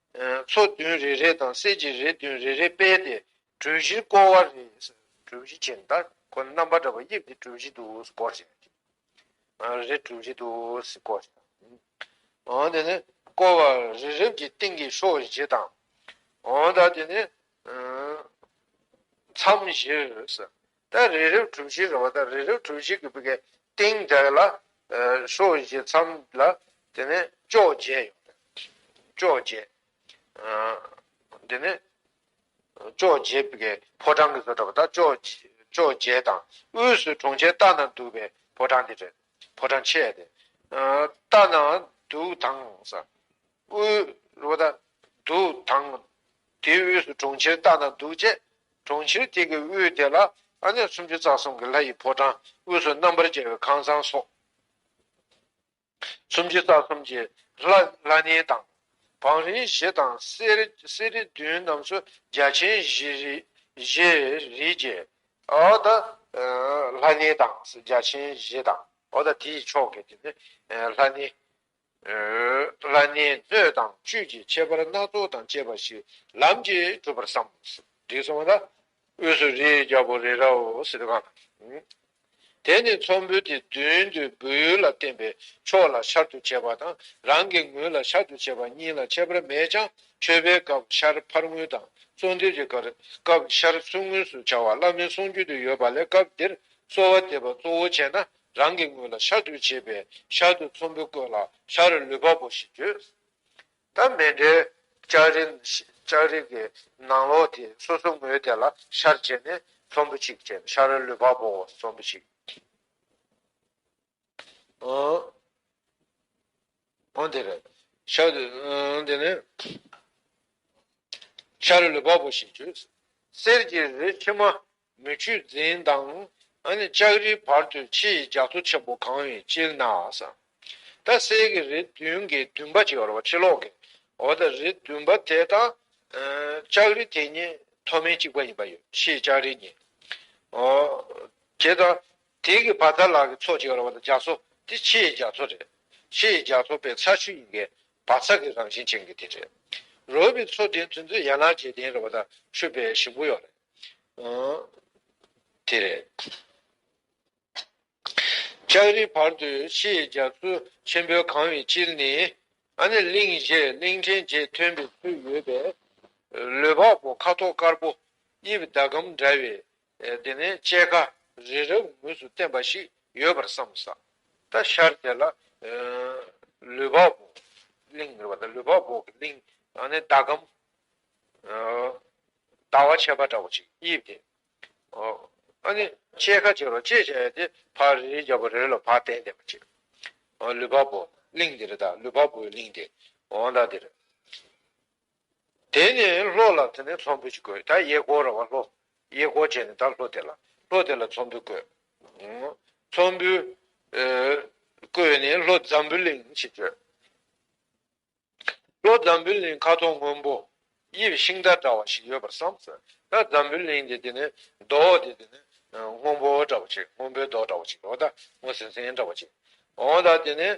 མཚོ་བདུན་རེ་རེ་དང་གསེར་གྱི་རི་བདུན་རེ་རེ་སྤེལ་ཏེ་གྲུ་བཞིར་བསྐོར་བ་རེ། གྲུ་བཞི་ཆེ་འདྲ་ཁོ་ན་རྣམ་པར་བཀྲ་བའི་དབྱིབས་ཀྱི་གྲུ་བཞི་དུ་བསྐོར་ཞིང། རེ་གྲུ་བཞི་དུ་བསྐོར་ཞིང། འོན་ཏེ་ནི་བསྐོར་བ་རེ་རེ་བཞིའི་སྟེང་གི་ཕྱོགས་བཞི་དང། འོན་ཏེ་ནི། མཚམས་བཞིར། ད་རི་རབ་གྲུ་བཞི་རེད་བ་ད་རི་རབ་གྲུ་བཞི་གི་བི་གའི་སྟེང་དག་ལ། ཧྲོ་བཞི་མཚམས་ལ་དེ་ནས་ཅོག་བརྒྱད་ཡོད་རེད། ཅོག་བརྒྱད། དེ་ནས། ཅོག་བརྒྱད་བི་གའི་ཕོ་བྲང་གི་བཟོ་གྲྭ་བ་ད་ཅོག། ཅོག་བརྒྱད་དང་དབུས་སུ་གྲོང་ཁྱེར་སྟག་ན་འདུག་བའི་ཕོ་བྲང་དེ་རེད། ཕོ་བྲང་ཆེ། དེ། སྟག་ན་འདུག་དང་ས། དབུས་རུ་དང་དུ་དང། དེའི་དབུས་སུ་གྲོང་ཁྱེར་རྟ་དང་གདུགས་བཅས། གྲོང་ཁྱེར་དེ་གི་དབུས་དེ་ལ། ཨ་ནེ་སུམ་ཅུ་རྩ་གསུམ་གྱི་ལྷ་ཡི་ཕོ་བྲང་དབུས་སུ་རྣམ་པར་རྒྱལ་བའི་ཁང་བཟང་སོགས། སུམ་ཅུ་རྩ་གསུམ་གྱི་ལྷ་གནས་དང། བང་རིམ་བཞི་དང་གསེར་རི་བདུན་རྣམས་སུ་རྒྱ་ཆེན་བཞི་རིས་བརྒྱད། ལྷ་གནས་དང་རྒྱ་ཆེན་བཞི་དང། དེའི་ཕྱོགས་ཀྱི་ལྷ་གནས། ལ་ནི་སྣོད་དང་བཅུད་ཀྱི་ཁྱད་པར་སྣ་ཚོགས་དང་བཅས་པ་ཞིག་ལམ་གྱིས་གྲུབ་པར་བསམ། འདི་གསུངས་བ་དང། དབུས་སུ་རིའི་རྒྱལ་པོ་རི་རཱ་ཨོ་སི་ཏི་ཀ་དང། དེ་ནི་ཚོམ་བུ་དེ་བདུན་དུ་སྦུ་ཡུལ་ལ་བརྟེན་པའི་ཕྱོགས་ལ་ཤར་དུ་བྱས་པ་དང་རང་གི་ངོས་ལ་ཤར་དུ་བྱས་པ་གཉིས་ལ་ཁྱད་པར་མེད་ཅིང་མཆོད་པའི་སྐབས་ཤར་ཕར་ངོས་དང་གསོལ་འདེབས་ཀྱི་སྐབས་ཤར་ཚུར་ངོས་སུ་བྱ་བ་བླ་མའི་གསུང་རྒྱུན་དུ་ཡོད་པ་ལས་སྐབས་འདིར་གསོལ་བ་འདེབས་པ་གཙོ་བོ་བྱས་ན་རང་གི་ངོས་ལ་ཤ་དུལ་བྱས་པས་ཤ་དུལ་ཚོམ་བུ་བཀོད་ལ་ཤ་རུ་ལུད་པ་པོ་ཞེས་བརྗོད། ད་མེ་འབྲས་ལྕགས་རིགས་ཀྱི་ནང་ལོགས་དེ་སོ་སོ་ངོས་དེ་ལ་ཤར་བྱས་ནས་ཚོམ་བུ་གཅིག་བྱས་ལ་ཤ་རུ་ལུད་པ་པོ་ཚོམ་བུ་གཅིག། འོན་ཏེ། ཤཱ་རིའི་ལུས་འབབ་བོ་ཞེས་བརྗོད། གསེར་གྱི་རི་ཕྱེ་མ་མི་ཆུ་འཛིན་དང། ལྕགས་རིའི་བར་དུ་ཕྱེ་ཡི་ལྗགས་ཐོ་ཆེན་པོ་གང་བའི་སྤྱིར་ན། ད་གསེར་གྱི་རི་བདུན་གྱི་བདུན་པ་ཕྱེ་ལོག་གི་འོག་ཏུ་རི་བདུན་པ་དེ་དང། ལྕགས་རི་དེ་གཉིས་མཐོ་དམན་གཅིག་པ་ཡིན་པ་ཡོད་ཕྱེའི་ལྕགས་རི་གཉིས། དེ་དང། དེ་གི་བར་ད་ལག་གི་ཚོགས་བྱེ་བ་བ་ལ་རྒྱ་མཚོ་དེ་ཕྱི་ཡི་རྒྱ་མཚོ་རེད། ཕྱི་ཡི་རྒྱ་མཚོ་པའི་ཚ་ཆུ་ཡི་གའི་བ་ཚ་གི་རང་བཞིན་ཅན་གི་དེ་རེད། རོ་བི་མཚོ་དེ་དུས་མཚོ་ཡ་ནག་རྗེས་དེན་རེད་བ་ད་ཆུ་པའི་ཞིམ་པོ་ཡོག་རེད། དེ་རེད། ལྕགས་རི་བར་དུ་ཕྱི་ཡི་རྒྱ་མཚོ་ཆེན་པོའི་གང་བའི་དཀྱིལ་ནི། ཨ་ནི་གླིང་བཞི་གླིང་ཕྲན་བརྒྱད་ཐོན་པའི་ཚུལ་ཡོད་པས། ལུས་འཕགས་པོ་ཁ་དོག་དཀར་པོ་དབྱིབས་ཟླ་གམ་འདྲ་བའི་དེ་ནས་དཔྱད་ཁ་རི་རབ་ངོས་སུ་བསྟན་པ་ཞིག་ཡོད་པར་བསམ། ས་རྟ་ཤར་དེ་ལ། ལུས་འབག་འབོག་གླིང་ཟེར་བ་དང་ལུས་འབག་འབོག་གི་གླིང། ཨ་ནི་ཟླ་གམ། ཟླ་བ་ཕྱེད་པ་འདྲ་བོ་ཞིག་དབྱིབས་དེ། ཨ་ནི་དཔྱད་ཁ་བྱས་རོགས་ཅེས་བྱས་ཡས་དེ་ཕ་རི་རི་རྒྱབ་པོ་རི་རི་ལ་བག་བསྟན་བསྟན་པ་ཅིག། ལུས་འབག་འབོག་གླིང་དེ་རི་དང་ལུས་འབག་འབོག་གི་གླིང་དེ། འོང་དང་དེ་རི། དེ་ནས་ལྷོ་ལ་དེ་ནས་ཚོམ་བུ་ཅིག་བཀོད་ད་གཡས་སྐོར་ར་བ་ལྷོ། གཡས་སྐོར་བྱས་ནས་ད་ལྷོ་དེ་ལ། ལྷོ་དེ་ལ་ཚོམ་བུ་བཀོད། ཚོམ་བུ། བཀོད་ནས་ལྷོ་འཛམ་བུ་གླིང་ཞེས་བརྗོད། ལྷོ་འཛམ་བུ་གླིང་ཁ་དོག་སྔོན་པོ། དབྱིབས་ཤིང་རྟ་འདྲ་བ་ཞིག་ཡོད་པར་བསམ། ད་འཛམ་བུ་གླིང་དེ་དེ་ནས་མདོག་དེ་དེ་ནས་སྔོན་པོ་འདྲ་བ་ཅིག་སྔོན་པོའི་མདོག་འདྲ་བ་ཅིག་འོ་ད་སྔོ་སིང་སིང་འདྲ་བ་ཅིག་འོང་ད་དེ་ནས་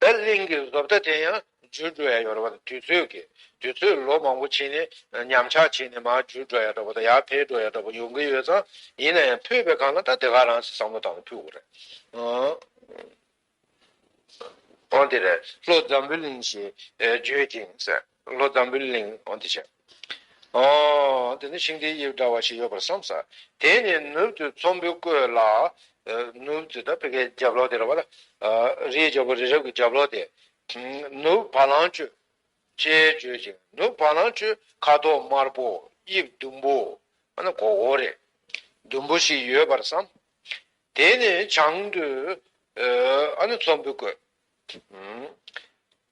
བདེ་གླིང་གི་བཟོ་ལྟ་དེ་ཡང་འཇུ་འགྲོ་ཡ་ཡོད་རེད་བ་དང་དུས་ཚོད་ཀྱི་དུས་ཚོད་ལོ་མང་པོ་ཕྱིན་ནས་ཉམས་ཆག་ཕྱིན་ནས་མར་འཇུ་འགྲོ་ཡ་འདྲ་བ་དང་ཡར་འཕེལ་འགྲོ་ཡ་འདྲ་བ་ཡོང་གི་ཡོད་ཙང་ཡིན་ན་ཡང་ཕུད་པའི་གང་ན་ད་དེ་ག་རང་སེ་བསམ་བློ་བཏང་ནས་ཕུད་དགོས་རེད། འོན་ཏེ་རེད་ལོ་འཛམ་བུ་གླིང་ཞེས་བརྗོད་ཅིང། ལྷོ་འཛམ་བུའི་གླིང། འོ་འདི་ཆ། ཨོ། འདི་ནི་ཤིང་རྟའི་དབྱིབས་འདྲ་བ་ཞིག་ཡོད་པར་བསམས། དེ་ནས་ནུབ་ཏུ་ཚོམ་བུ་བཀོད་ལ། ནུབ་ཏུ་དང་བོད་སྐད་རྒྱབ་ལོགས་དེ་རེད་བ་ལ། རི་ཡི་རྒྱབ་ལོགས་རི་རབ་ཀྱི་རྒྱབ་ལོགས་དེ། ནུབ་བ་ལང་སྤྱོད། ཅེས་བརྗོད་ཅིང་ནུབ་བ་ལང་སྤྱོད་ཁ་དོག་དམར་པོ་དབྱིབས་ཟླུམ་པོ། ཨ་ན་གོ་བོ་རེད། ཟླུམ་པོ་ཞིག་ཡོད་པར་བསམ། དེ་ནས་བྱང་དུ། ཨ་ན་ཚོམ་བུ་བཀོད།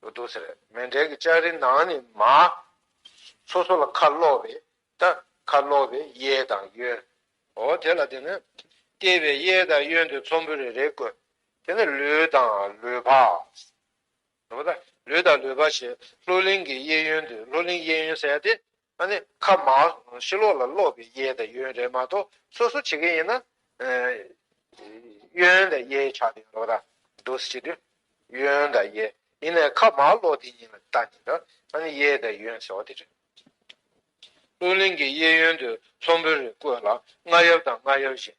དུ་འདུག་ཟེར། མེ་འབྲས་ཀྱི་ལྕགས་རི་ནང་ནས་མ། སོ་སོ་ལ་ཁ་སློག་པའི་རྟ། ཁ་སློག་པའི་གཡས་དང་གཡོན། འོ་དེ་ལ་དེ་ནི། ལྟེ་བའི་གཡས་དང་གཡོན་དུ་ཚོམ་བུ་རེ་རེ་བཀོད། དེ་ནི་ལུས་དང་ལུས་འཕགས། ལུས་དང་ལུས་འཕགས་ཞེས་ལྷོ་གླིང་གི་གཡས་གཡོན་དུ་ལྷོ་གླིང་གཡས་གཡོན་གསལ་ཏེ། ཨ་ནི་ཁ་མ། ཤི་ལོག་ལ་སློག་པའི་གཡས་དང་གཡོན་རེད་མ་གཏོགས་སོ་སོ་བྱེད་ཀྱི་ཡིན་ན། གཡོན་དང་གཡས་ཆགས་དེ་རོ་ར། འདུ་སེ་དེ། གཡོན་དང་གཡས། ཡིན་ནའི་ཁ་མ་སློག་དེ་ཡིན་ལ་ད་ནི་ར། ཨ་ནི་གཡས་དང་གཡོན་ཟེར་བ་དེ་རེད། ཨུ་གླིང་གི་གཡས་གཡོན་དུ་ལྷུན་པོ་རེ་བཀོད་ལ་རྔ་གཡབ་དང་རྔ་གཡབ་བཞིན།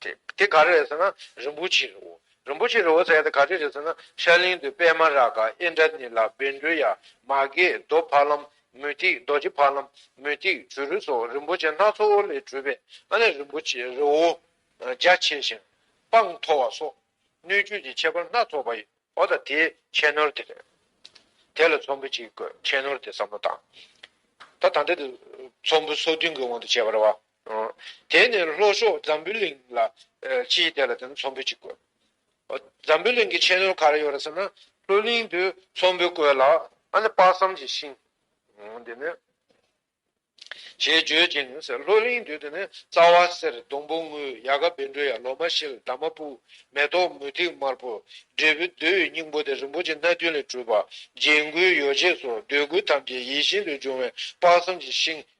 དེ་དེ་ག་རེ་རེད་ཟེར་ན་རིན་པོ་ཆེའི་རི་བོ། རིན་པོ་ཆེའི་རི་བོ་ཟེར་ཡ་དེ་ག་རེ་རེད་ཟེར་ན་ཤར་གླིང་དུ་པད་མ་རཱ་ག་ཨེ་འདྲ་ནི་ལ་བེ་འབྲུ་ཡ་མ་གའི་རྡོ་ཕ་ལམ་མུ་ཏིག་རྡོ་རྗེ་ཕ་ལམ་མུ་ཏིག་བྱུ་རུ་སོགས་རིན་པོ་ཆེ་སྣ་ཚོགས་ལས་གྲུབ་པའི་ཨ་ནེ་རིན་པོ་ཆེའི་རི་བོ། རྒྱ་ཆེ་ཞིང་དཔངས་མཐོ་བ་སོགས་སྣོད་བཅུད་ཀྱི་ཁྱད་པར་སྣ་ཚོགས་པ་ཡོད་པ་དང་དེའི་ཁྱད་ནོར་དེ་རེད། དེ་ལ་ཚོམ་བུ་གཅིག་གི་ཁྱད་ནོར་དེ་བསམ་བློ་བཏང། ད་ད་ལྟ་དེ་ཚོམ་བུ་སོ་བདུན་གྱི་དབང་དུ་བྱས་པར་བ་དེ་ནས་ལྷོ་ཕྱོགས་འཛམ་བུའི་གླིང་ལ་ཕྱིན་དེ་ལ་དེ་ནས་ཚོམ་བུ་གཅིག་བཀོད། འཛམ་བུའི་གླིང་གི་ཕྱེད་ནོར་ག་རེ་ཡོད་རེད་ཟེར་ན་ལྷོ་གླིང་དུ་ཚོམ་བུ་བཀོད་ལ་ཨ་ནི་དཔག་བསམ་གྱི་ཤིང། དེ་ནས། ཞེས་བརྗོད་ཅིང་ནི་ཟེར་ལྷོ་གླིང་དུ་དེ་ནས་རྩ་བ་གསེར་སྡོང་བུ་དངུལ་གཡག་ག་བེ་འབྲུ་ཡར་ལོ་མ་ཤེལ་འདབ་མ་སྤུག་མེ་ཏོག་མུ་ཏིག་དམར་པོ་འབྲས་བུ་བདུད་ཡི་སྙིང་པོ་སྟེ་རིན་པོ་ཆེ་སྣ་བདུན་ལས་གྲུབ་པ་རྒྱན་གོས་ཡོ་བྱད་སོགས་འདོད་དགུ་ཐམས་ཅད་ཡིད་བཞིན་དུ་འབྱུང་བའི་དཔག་བསམ་གྱི་ཤིང་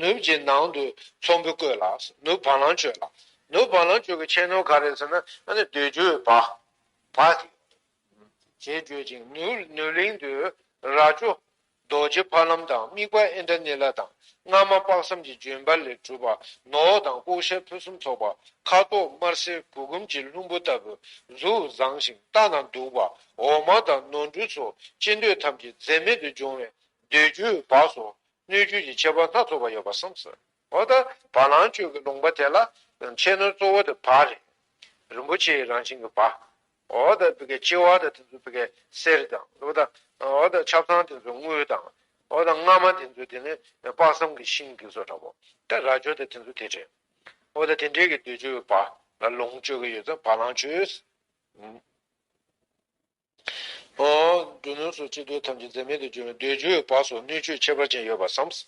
ནུབ་ཀྱི་ནང་དུ་ཚོམ་བུ་བཀོད་ལ། ནུབ་བ་ལང་སྤྱོད་ལ། ནུབ་བ་ལང་སྤྱོད་ཀྱི་ཕྱེད་ནོར་ག་རེ་ཟེར་ན་འདོད་འཇོའི་བ། བ། ཞེས་བརྗོད་ཅིང་ནུབ་གླིང་དུ་རྭ་ཅོ། རྡོ་རྗེ་ཕ་ལམ་དང་དམིགས་པ་ཨེ་འདྲ་ནི་ལ་དང་སྔ་མ་དཔག་བསམ་གྱི་ལྗོན་པ་ལས་གྲུབ་པ་ནོར་བ་དང་ལྐོག་ཤལ་ཕུན་སུམ་ཚོགས་པ་ཁ་དོག་དམར་སེར་བུ་གུམ་གྱི་ལྷུན་པོ་ལྟ་བུ་གཟུགས་བཟང་ཞིང་ལྟ་ན་སྡུག་པ་འོ་མ་དང་ནོར་འབྲུ་སོགས་ཅི་འདོད་ཐམས་ཅད་འཛད་མེད་དུ་འབྱུང་བས་འདོད་འཇོའི་བ་སོགས་སྣོད་བཅུད་ཀྱི་ཁྱད་པར་སྣ་ཚོགས་པ་ཡོད་པར་སེམས་སོ། འོ་ད་བ་ལང་སྤྱོད་ཀྱི་ལུང་པ་དེ་ལ་ཕྱེད་སྣོད་གཙོ་བོ་དེ་བ་རེད། རིན་པོ་ཆེའི་རང་བཞིན་གྱི་བ། འོ་ད་བི་ཀའི་ལྕི་བ་དང་དེ་ཚོ་བི་ཀའི་གསེར་དང། འོ་ད་འོ་ད་ཆབ་ཚང་དེ་ཚོ་དངུལ་དང། འོ་ད་རྔ་མ་དེ་ཚོ་དེ་ནི་དཔག་བསམ་གྱི་ཤིང་གི་སོ་འདྲ་བོ། ད་རྭ་ཅོ་དང་དེ་ཚོ་དེ་འདྲའི། འོ་ད་དེ་འདྲའི་གི་འདོད་འཇོའི་བ་ལ་ལོངས་སྤྱོད་ཀྱི་ཡོད་ཚད་བ་ལང་སྤྱོད། ཨོ། འབྲུ་ནོར་སོགས་སྤྱི་བརྟོལ་ཐམས་ཅད་འཛད་མེད་དུ་གྱུར་བས་འདོད་འཇོའི་བག་སོགས་སྣོད་བཅུད་ཁྱད་པར་ཅན་ཡོད་པར་བསམས།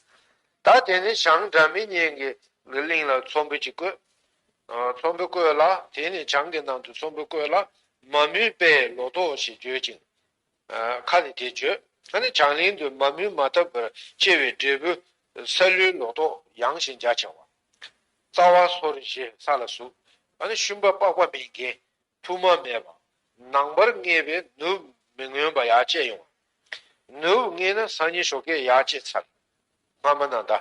ད་དེ་ནས་བྱང་སྒྲ་མི་སྙན་གྱི་གླིང་ལ་ཚོམ་བུ་ཅིག་བཀོད། ཚོམ་བུ་བཀོད་ལ་དེ་ནས་བྱང་གི་ནང་དུ་ཚོམ་བུ་བཀོད་ལ་མ་མུན་དཔེའི་ལོ་ཏོག་ཞེས་བརྗོད་ཅིང། ཁ་ནས་དེ་བརྗོད། ད་ནི་བྱང་གླིང་དུ་མ་མུན་མ་བཏབ་པར་སྐྱེ་བའི་འབྲས་བུ། ས་ལུའི་ལོ་ཏོག་ཡང་ཞིང་རྒྱ་ཆེ་བ། རྩ་བ་སོར་བཞི་ས་ལ་ཟུག། ད་ནི་ཤུན་པ་པགས་པ་མི་འགེངས། ཐུར་མ་མེད་པ། ནང་པར་བརྔས་པས་ནུབ་མི་མངོན་པ་ཡར་བཅད་ཡོང་བ། ནུབ་བརྔས་ན་སང་ཉིན་ཞོགས་ཀས་ཡར་བཅད་ཚར། སྔ་མ་ན་མདའ།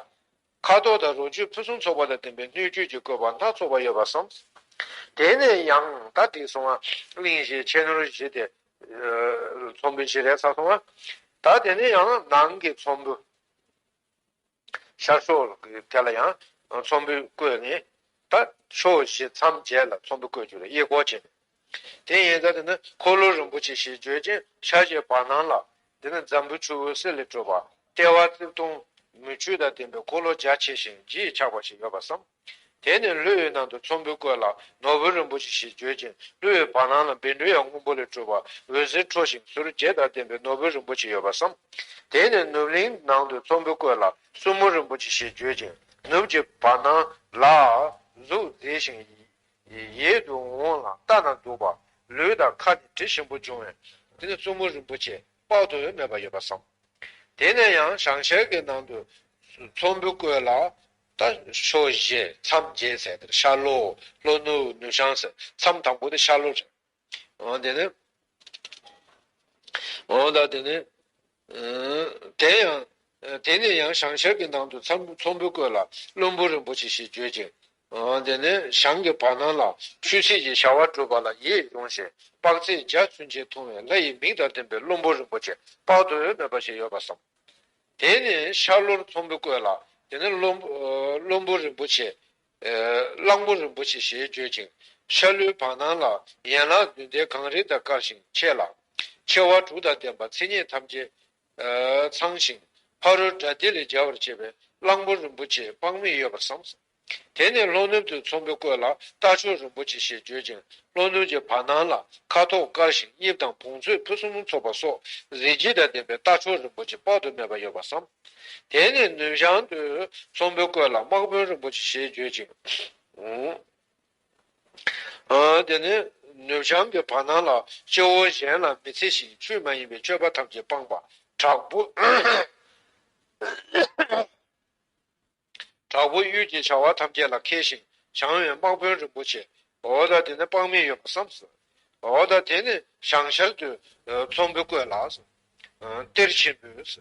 ཁ་དོག་དང་རོ་བཅུད་ཕུན་སུམ་ཚོགས་པ་དང་ལྡན་པའི་སྣོད་བཅུད་ཀྱི་བཀོད་པ་སྣ་ཚོགས་པ་ཡོད་པར་བསམ། དེ་ནས་ཡང་མདའ་བསྒྲིགས་སོང་བ། གླིང་བཞིའི་ཕྱེད་ནོར་བཞི་སྟེ། ཚོམ་བུ་བཞི་རེ་ཚར་སོང་བ། ད་དེ་ནས་ཡང་ནང་གི་ཚོམ་བུ། ཤར་ཕྱོགས་དེ་ལ་ཡང་ཚོམ་བུ་བཀོད་ནས། ད་ཕྱོགས་བཞི་མཚམས་བརྒྱད་ལ་ཚོམ་བུ་བཀོད་རྒྱུ་རེད་དབྱེ་སྐོར་བྱས་ནས། དེ་ཡན་ཀ་དེ་ནི་འཁོར་ལོ་རིན་པོ་ཆེ་ཞེས་བརྗོད་ཅིང་ཕྱག་བཞིའི་བར་སྣང་ལ། འདི་ནི་འཛམ་བུའི་ཆུ་བོའི་གསེར་ལས་སྤྲོས་པ་ལྟེ་བ་རྩིབས་སྟོང། མུ་ཁྱུད་དང་ལྡན་པའི་འཁོར་ལོ་རྒྱ་ཆེ་ཞིང་བརྗིད་ཆགས་པ་ཞིག་ཡོད་པར་བསམ། དེ་ནས་གླུད་འོད་ནང་དུ་ཚོམ་བུ་བཀོད་ལ་ནོར་བུ་རིན་པོ་ཆེ་ཞེས་བརྗོད་ཅིང་གླུད་འོད་བར་སྣང་ལ་འབེན་འབྲུ་ཡང་སྔོན་པོ་ལས་སྤྲུལ་བ་འོད་ཟེར་འཕྲོ་ཞིང་ཟུར་བརྒྱད་དང་ལྡན་པའི་ནོར་བུ་རིན་པོ་ཆེ་ཡོད་པར་བསམ། དེ་ནས་ནུབ་གླིང་ནང་དུ་ཚོམ་བུ་བཀོད་ལ་སྲུ་མོ་རིན་པོ་ཆེ་ཞེས་བརྗོད་ཅིང་ནུབ་ཀྱི་བར་སྣང་ལ། གཟུགས་མཛེས་ཤིང། ཡིད་དུ་འོང་ལ་ལྟ་ན་སྡུག་པ། ལུས་དང་ཁ་ནི་དྲི་ཞིམ་པོ་འབྱུང་བའི། དེ་ནས་སྲུ་མོ་རིན་པོ་ཆེ་དཔག་ཏུ་མེད་པ་ཡོད་པར་བསམ། དེ་ནས་ཡང་བྱང་ཤར་གྱི་ནང་དུ་ཚོམ་བུ་བཀོད་ལ། ད་ཕྱོགས་བཞི་མཚམས་བརྒྱད་ཟེར་དེར་ཤར་ལྷོ་ལྷོ་ནུབ་ནུབ་བྱང་ཟེར་མཚམས་དང་པོ་དེ་ཤར་ལྷོ་རེད། འོན་ཏེ་ནི། འོན་ཏེ་དེ་ནི། དེ་ཡང། དེ་ནས་ཡང་བྱང་ཤར་གྱི་ནང་དུ་མཚམས་ཚོམ་བུ་བཀོད་ལ་བློན་པོ་རིན་པོ་ཆེ་ཞེས་བརྗོད་ཅིང། འོན་ཏེ་ནི་བྱང་གི་བར་སྣང་ལ་ཆོས་ཚིགས་ཀྱི་བྱ་བ་གྲུབ་པ་ལ་ཡིད་དབྱུང་ཞིང་དཔག་ཚད་འཇའ་ཚོན་ཅན་མཐོང་བའི་ལྷ་ཡི་མིག་དང་ལྡན་པའི་བློན་པོ་རིན་པོ་ཆེ་དཔག་ཏུ་མེད་པ་ཞིག་ཡོད་པར་བསམ། དེ་ནས་ཤར་ལྷོར་ཚོམ་བུ་བཀོད་ལ་དེ་ནས་བློན་པོ་རིན་པོ་ཆེ། གླང་པོ་རིན་པོ་ཆེ་ཞེས་བརྗོད་ཅིང་ཤར་ལྷོའི་བར་སྣང་ལ་ཡན་ལག་བདུན་ཟླའི་གངས་རི་དང་དཀར་ཞིང་ཆེ་ལ། ཆེ་བ་དྲུག་དང་ལྡན་པ་ཚེ་སྙེད་ཐམས་ཅད་ཚང་ཞིང་ཕ་རོལ་དགྲ་སྡེ་ལས་རྒྱལ་བར་བྱེད་པའི་གླང་པོ་རིན་པོ་ཆེའི་དཔག་མེད་ཡོད་པར་བསམས་སོ། དེ་ནས་ལྷོ་ནུབ་ཏུ་ཚོམ་བུ་བཀོད་ལ་རྟ་མཆོག་རིན་པོ་ཆེ་ཞེས་བརྗོད་ཅིང་ལྷོ་ནུབ་ཀྱི་བར་སྣང་ལ་ཁ་དོག་དཀར་ཞིང་གཉིབ་དང་བོངས་ཚོས་ཕུན་སུམ་ཚོགས་པ་སོགས་གཟི་བརྗིད་དང་ལྡན་པའི་རྟ་མཆོག་རིན་པོ་ཆེ་དཔག་ཏུ་མེད་པ་ཡོད་པར་བསམ། དེ་ནས་ནུབ་བྱང་དུ་ཚོམ་བུ་བཀོད་ལ་དམག་དཔོན་རིན་པོ་ཆེ་ཞེས་བརྗོད་ཅིང། དེ་ནས་ནུབ་བྱང་གི་བར་སྣང་ལ་སྤྱི་བོ་གཞན་ལ་མི་འཚེ་ཞིང་ཆོས་མ་ཡིན་པའི་སྤྱོད་པ་ཐམས་ཅད་སྤངས་པ་དྲག་པོ། དྲག་པོ་གཡུལ་གྱི་བྱ་བ་ཐམས་ཅད་ལ་མཁས་ཤིང་བྱང་བའི་དམག་དཔོན་རིན་པོ་ཆེ་འོ་ད་དེ་ནི་དཔག་མེད་ཡོད་པར་བསམས་སོ། འོ་ད་དེ་ནི་བྱང་ཤར་དུ་ཚོམ་བུ་བཀོད་ལགས་སོ། གཏེར་ཆེན་པོས།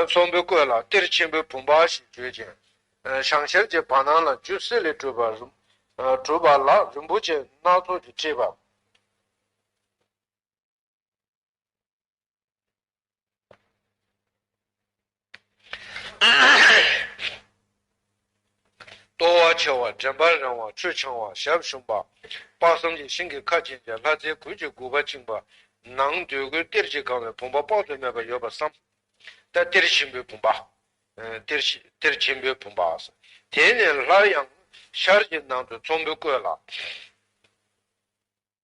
ཚོམ་བུའི་བཀོད་ལ་གཏེར་ཆེན་པོའི་བུམ་པ་ཞེས་བརྗོད་ཅིང། བྱང་ཤར་གྱི་བར་སྣང་ལ་རྒྱུད་གསེར་ལས་གྲུབ་པ་ལ་རིན་པོ་ཆེ་སྣ་ཚོགས་ཀྱིས་དཀྲིས་པ། ལྟོ་བ་ཆེ་བ་དྲན་པ་རིང་བ་ཆུ་འཕྱང་བ་ཞབས་ཞུམ་པ། དཔག་བསམ་གྱི་ཤིང་གི་ཁ་ཅན་གྱི་ལྷ་རྫས་གོས་ཀྱི་དགུ་པ་བཅིངས་པ། ནང་འདོད་རྒུའི་གཏེར་གྱིས་གང་བའི་བུམ་པ་དཔག་ཏུ་མེད་པ་ཡོད་པར་བསམ། ད་གཏེར་ཆེན་པོའི་བུམ་པ། གཏེར་ཆེན་པོའི་བུམ་པ། དེ་ནས་སླར་ཡང་ཤར་གྱི་ནང་དུ་ཚོམ་བུ་བཀོད་ལ།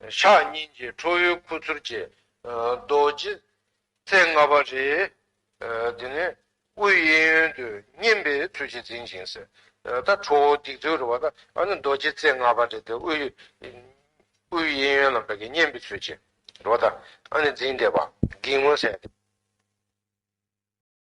ཕྱག་གཉིས་ཀྱིས་ཁྲོ་བོའི་ཁུ་ཚུར་བཅད། རྡོ་རྗེ་རྩེ་ལྔ་པ་རེ། དེ་ནས་དབུས་གཡས་གཡོན་དུ་བསྙེམས་པའི་ཚུལ་གྱིས་འཛིན་ཅིང་གསལ། ད་ཁྲོ་བོ་སྡིགས་མཛུབ་རེ་བ་ད་རྡོ་རྗེ་རྩེ་ལྔ་པ་རེ་དེ་དབུས་གཡས་གཡོན་ལ་བསྙེམས་པའི་ཚུལ་གྱིས་རེ་བ་ད་འཛིན་བཟླས་པ་བགེགས་མངོན་གསལ།